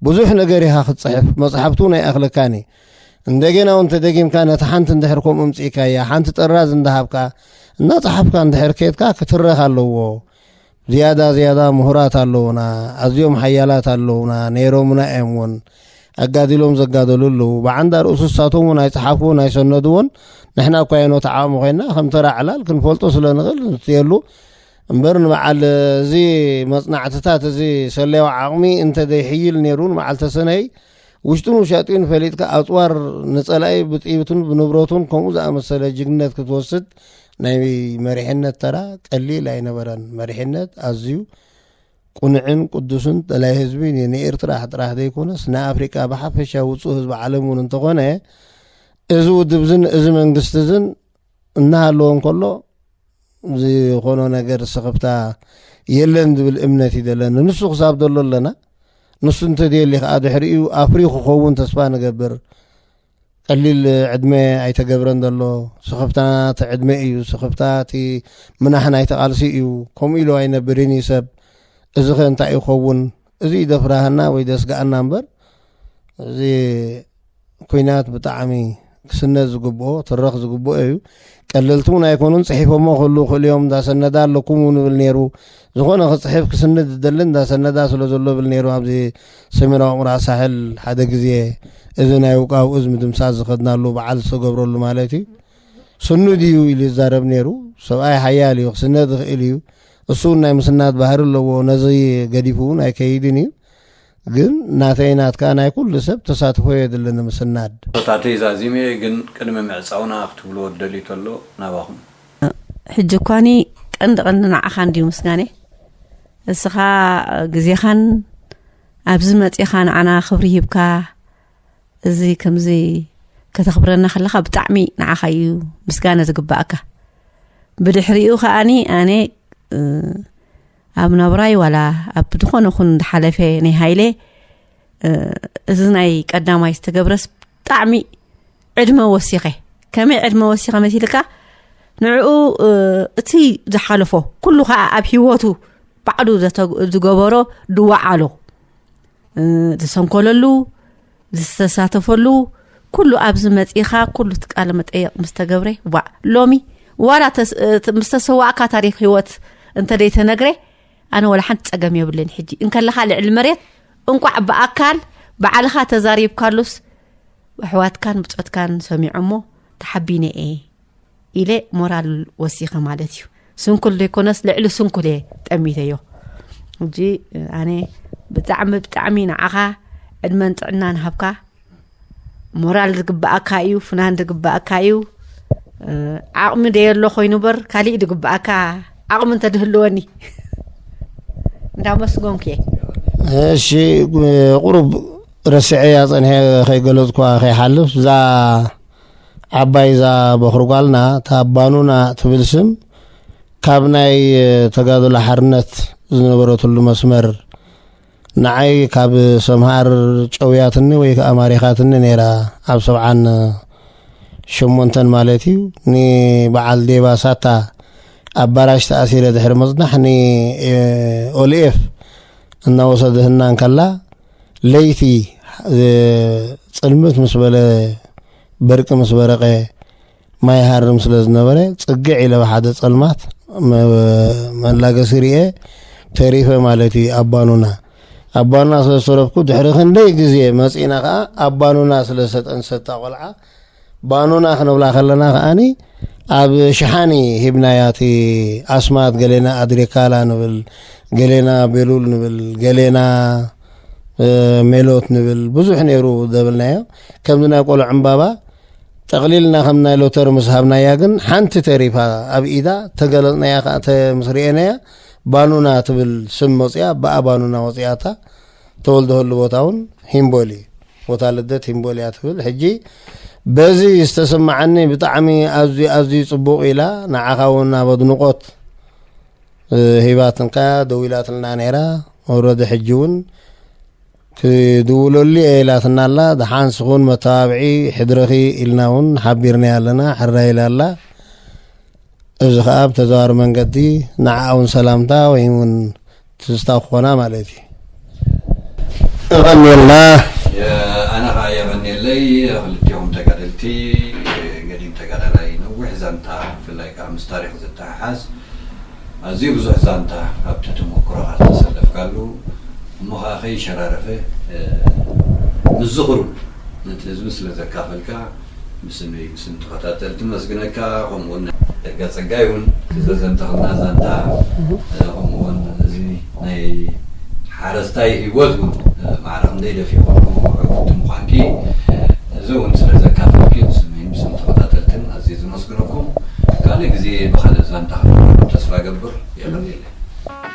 ብዙሕ ነገር ኢኻ ክትፅሕፍ መፅሓፍቲ እውን ኣይኣኽለካን እዩ እንደገና እውን ተደጊምካ ነቲ ሓንቲ እንድሕር ከምኡ ምፅኢካያ ሓንቲ ጥራዝ እንዳሃብካ እናፀሓፍካ እንድሕር ከትካ ክትረኽ ኣለዎ ዝያዳ ዝያዳ ምሁራት ኣለዉና፣ ኣዝዮም ሓያላት ኣለዉና፣ ነይሮምና እዮም እውን፣ ኣጋዲሎም ዘጋደሉ ኣለዉ፣ ብዓንዳ ርእሱ እሳቶም እውን ኣይጸሓፍዎን ኣይሰነድዎን፣ ንሕና እኳ የኖ ተዓዋሚ ኮይና ከም ተራ ዕላል ክንፈልጦ ስለ ንኽእል ንስትየሉ፣ እምበር ንበዓል እዚ መጽናዕትታት እዚ ሰለያዊ ዓቕሚ እንተ ዘይሕይል ነይሩ ንበዓል ተሰነይ ውሽጡን ውሻጢኡን ፈሊጥካ ኣፅዋር ንፀላኢ ብጥይቱን ብንብረቱን ከምኡ ዝኣመሰለ ጅግነት ክትወስድ ናይ መሪሕነት ተራ ቀሊል ኣይነበረን። መሪሕነት ኣዝዩ ቁኑዕን ቅዱስን ጠላይ ህዝቢ ንኤርትራ ጥራሕ ዘይኮነስ ንኣፍሪቃ ብሓፈሻ ውፁእ ህዝቢ ዓለም እውን እንተኾነ እዚ ውድብ ዝን እዚ መንግስቲ ዝን እናሃለዎ እንከሎ ዝኾኖ ነገር ስኽፍታ የለን ዝብል እምነት እዩ ዘለና ንሱ ክሳብ ዘሎ ኣለና ንሱ እንተደሊ ከዓ ድሕሪኡ ኣፍሪ ክኸውን ተስፋ ንገብር ቀሊል ዕድመ ኣይተገብረን ዘሎ ስኽፍታ እቲ ዕድመ እዩ ስኽፍታ እቲ ምናሕ ናይ ተቓልሲ እዩ ከምኡ ኢሉ ኣይነብርን እዩ ሰብ እዚ ከ እንታይ ይኸውን እዚ ደፍራሃና ወይ ደስጋኣና እምበር እዚ ኩናት ብጣዕሚ ክስነድ ዝግብኦ ትረኽ ዝግብኦ እዩ ቀለልቲ እውን ኣይኮኑን ፅሒፎሞ ክህሉ ክእሉ እዮም እንዳሰነዳ ኣለኩም እውን ብል ነይሩ ዝኾነ ክፅሕፍ ክስንድ ዝደሊ እንዳሰነዳ ስለ ዘሎ ብል ነይሩ ኣብዚ ሰሜናዊ ምዕራብ ሳሕል ሓደ ግዜ እዚ ናይ ውቃው እዝ ምድምሳስ ዝኸድናሉ በዓል ዝተገብረሉ ማለት እዩ ስኑድ እዩ ኢሉ ይዛረብ ነይሩ ሰብኣይ ሓያል እዩ ክስነድ ዝኽእል እዩ እሱ እውን ናይ ምስናድ ባህሪ ኣለዎ ነዚ ገዲፉ እውን ኣይከይድን እዩ ግን ናተይ ናትካ ናይ ኩሉ ሰብ ተሳትፎ የድሊ ንምስናድ። ቶታተይ ዛዚመ እየ ግን ቅድሚ ምዕጻውና ክትብልዎ ትደልዩ ተሎ ናባኹም። ሕጂ እኳኒ ቀንዲ ቀንዲ ንዓኻ እንድዩ ምስጋንይ እስኻ ግዜኻን ኣብዚ መጺኻ ንዓና ክብሪ ሂብካ እዚ ከምዚ ከተኽብረና ከለኻ ብጣዕሚ ንዓኻ እዩ ምስጋነ ዝግባኣካ ብድሕሪኡ ከኣኒ ኣነ ኣብ ናብራይ ዋላ ኣብ ዝኾነ ኹን ዝሓለፈ ናይ ሃይለ እዚ ናይ ቀዳማይ ዝተገብረስ ብጣዕሚ ዕድመ ወሲኸ ከመይ ዕድመ ወሲኸ መሲልካ ንዕኡ እቲ ዝሓለፎ ኩሉ ከዓ ኣብ ሂወቱ ባዕሉ ዝገበሮ ድዋዓሎ ዝሰንኮለሉ ዝተሳተፈሉ ኩሉ ኣብዚ መፂእኻ ኩሉ ትቃለ መጠየቕ ምስ ተገብረ ዋእ ሎሚ ዋላ ምስ ተሰዋእካ ታሪክ ህይወት እንተደይ ተነግረ ኣነ ወላ ሓንቲ ፀገም የብልን ሕጂ እንከለኻ ልዕሊ መሬት እንቋዕ ብኣካል ብዓልኻ ተዛሪብካሉስ ኣሕዋትካን ብፆትካን ሰሚዖሞ ተሓቢነ እየ ኢለ ሞራል ወሲኸ ማለት እዩ ስንኩል ዘይኮነስ ልዕሊ ስንኩል እየ ጠሚተዮ እጂ ኣነ ብጣዕሚ ብጣዕሚ ንዓኻ ዕድመን ጥዕናን ሃብካ ሞራል ዝግብኣካ እዩ ፍናን ዝግብኣካ እዩ ዓቕሚ ደየሎ ኮይኑ በር ካሊእ ዝግብኣካ ዓቕሚ እንተድህልወኒ እንዳመስጎንኩ እየ እሺ ቁሩብ ረስዐያ ፀንሐ ከይገለፅኳ ከይሓልፍ እዛ ዓባይ እዛ በኹሪ ጓልና እታ ባኑና ትብል ስም ካብ ናይ ተጋድሎ ሓርነት ዝነበረትሉ መስመር ንዓይ ካብ ሰምሃር ጨውያትኒ ወይ ከዓ ማሪኻትኒ ነይራ ኣብ ሰብዓን ሸሞንተን ማለት እዩ ንበዓል ዴባ ሳታ ኣብ ባራሽ ተኣሲረ ድሕሪ ምፅናሕ ንኦልኤፍ እናወሰድህና እንከላ ለይቲ ጽልምት ምስ በለ በርቂ ምስ በረቐ ማይ ይሃርም ስለ ዝነበረ ጽግዕ ኢለ ብሓደ ጸልማት መላገሲ ርኤ ተሪፈ ማለት እዩ ኣባኑና ኣባኑና ስለ ዝተረፍኩ ድሕሪ ክንደይ ግዜ መጺእና ከኣ ኣባኑና ስለ ዝተጠንሰታ ቆልዓ ባኑና ክንብላ ከለና ከኣኒ ኣብ ሽሓኒ ሂብናያ እቲ ኣስማት ገሌና ኣድሪካላ ንብል ገሌና ቤሉል ንብል ገሌና ሜሎት ንብል ብዙሕ ነይሩ ዘብልናዮ ከምዚ ናይ ቆልዑ ዕምባባ ጠቕሊልና ከም ናይ ሎተሪ ምስ ሃብናያ ግን ሓንቲ ተሪፋ ኣብ ኢዳ ተገለፅናያ ከዓ ምስ ርኤናያ ባኑና ትብል ስም መፅያ ብኣ ባኑና ወፅያታ ተወልደሉ ቦታ እውን ሂምቦሊ ቦታ ልደት ሂምቦሊ እያ ትብል ሕጂ በዚ ዝተሰማዓኒ ብጣዕሚ ኣዝዩ ኣዝዩ ፅቡቅ ኢላ ንዓኻ እውን ኣብ ኣድንቆት ሂባትንካ ደዊላትልና ነይራ ወረደ ሕጂ እውን ክድውለሉ እየ ኢላትና ኣላ ደሓን ስኹን መተባብዒ ሕድረኺ ኢልና እውን ሓቢርናያ ኣለና ሕራ ኢላ ኣላ እዚ ከኣ ብተዘዋዋሪ መንገዲ ንዓኣ ውን ሰላምታ ወይ ውን ትዝታ ክኾና ማለት እዩ። የቐንየልና። ኣነ ከኣ የቐንየለይ ክልቲኦም ተጋደልቲ ገዲም ተጋዳላይ ነዊሕ ዛንታ ብፍላይ ከኣ ምስ ታሪኽ ዝተሓሓዝ ኣዝዩ ብዙሕ ዛንታ ኣብቲ ተሞክሮኻ ዝተሰለፍካሉ እሞ ከኣ ከይሸራረፈ ምስ ዝኽሩ ነቲ ህዝቢ ስለ ዘካፈልካ ብስምይ ብስም ተኸታተልቲ መስግነካ ከምኡ ውን ደጋ ጸጋይ ውን እቲ ዘዘንተኽልና ዛንታ ከምኡ ውን እዚ ናይ ሓረስታይ ሂወት ውን ማዕረ ክንደይ ደፊኹሞ ዕውቲ ምዃንኪ እዚ ውን ስለ ዘካፈልኪ ብስምይን ብስም ተኸታተልትን ኣዝየ ዘመስግነኩም ካልእ ግዜ ብኻልእ ዛንታ ክንራኸብ ተስፋ እገብር የቐንየለይ።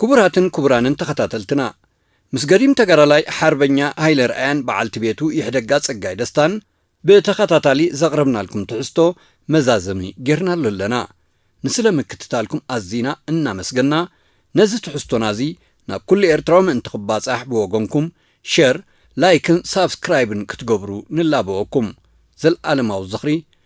ክቡራትን ክቡራንን ተኸታተልትና ምስ ገዲም ተጋዳላይ ሓርበኛ ሃይለ ርኣያን በዓልቲ ቤቱ ይሕደጋ ጸጋይ ደስታን ብተኸታታሊ ዘቕረብናልኩም ትሕዝቶ መዛዘሚ ጌርናሉ ኣለና። ንስለ ምክትታልኩም ኣዚና እናመስገና ነዚ ትሕዝቶና እዚ ናብ ኩሉ ኤርትራዊ ምእንቲ ክባጻሕ ብወገንኩም ሸር ላይክን ሳብስክራይብን ክትገብሩ ንላበወኩም። ዘልኣለማዊ ዝኽሪ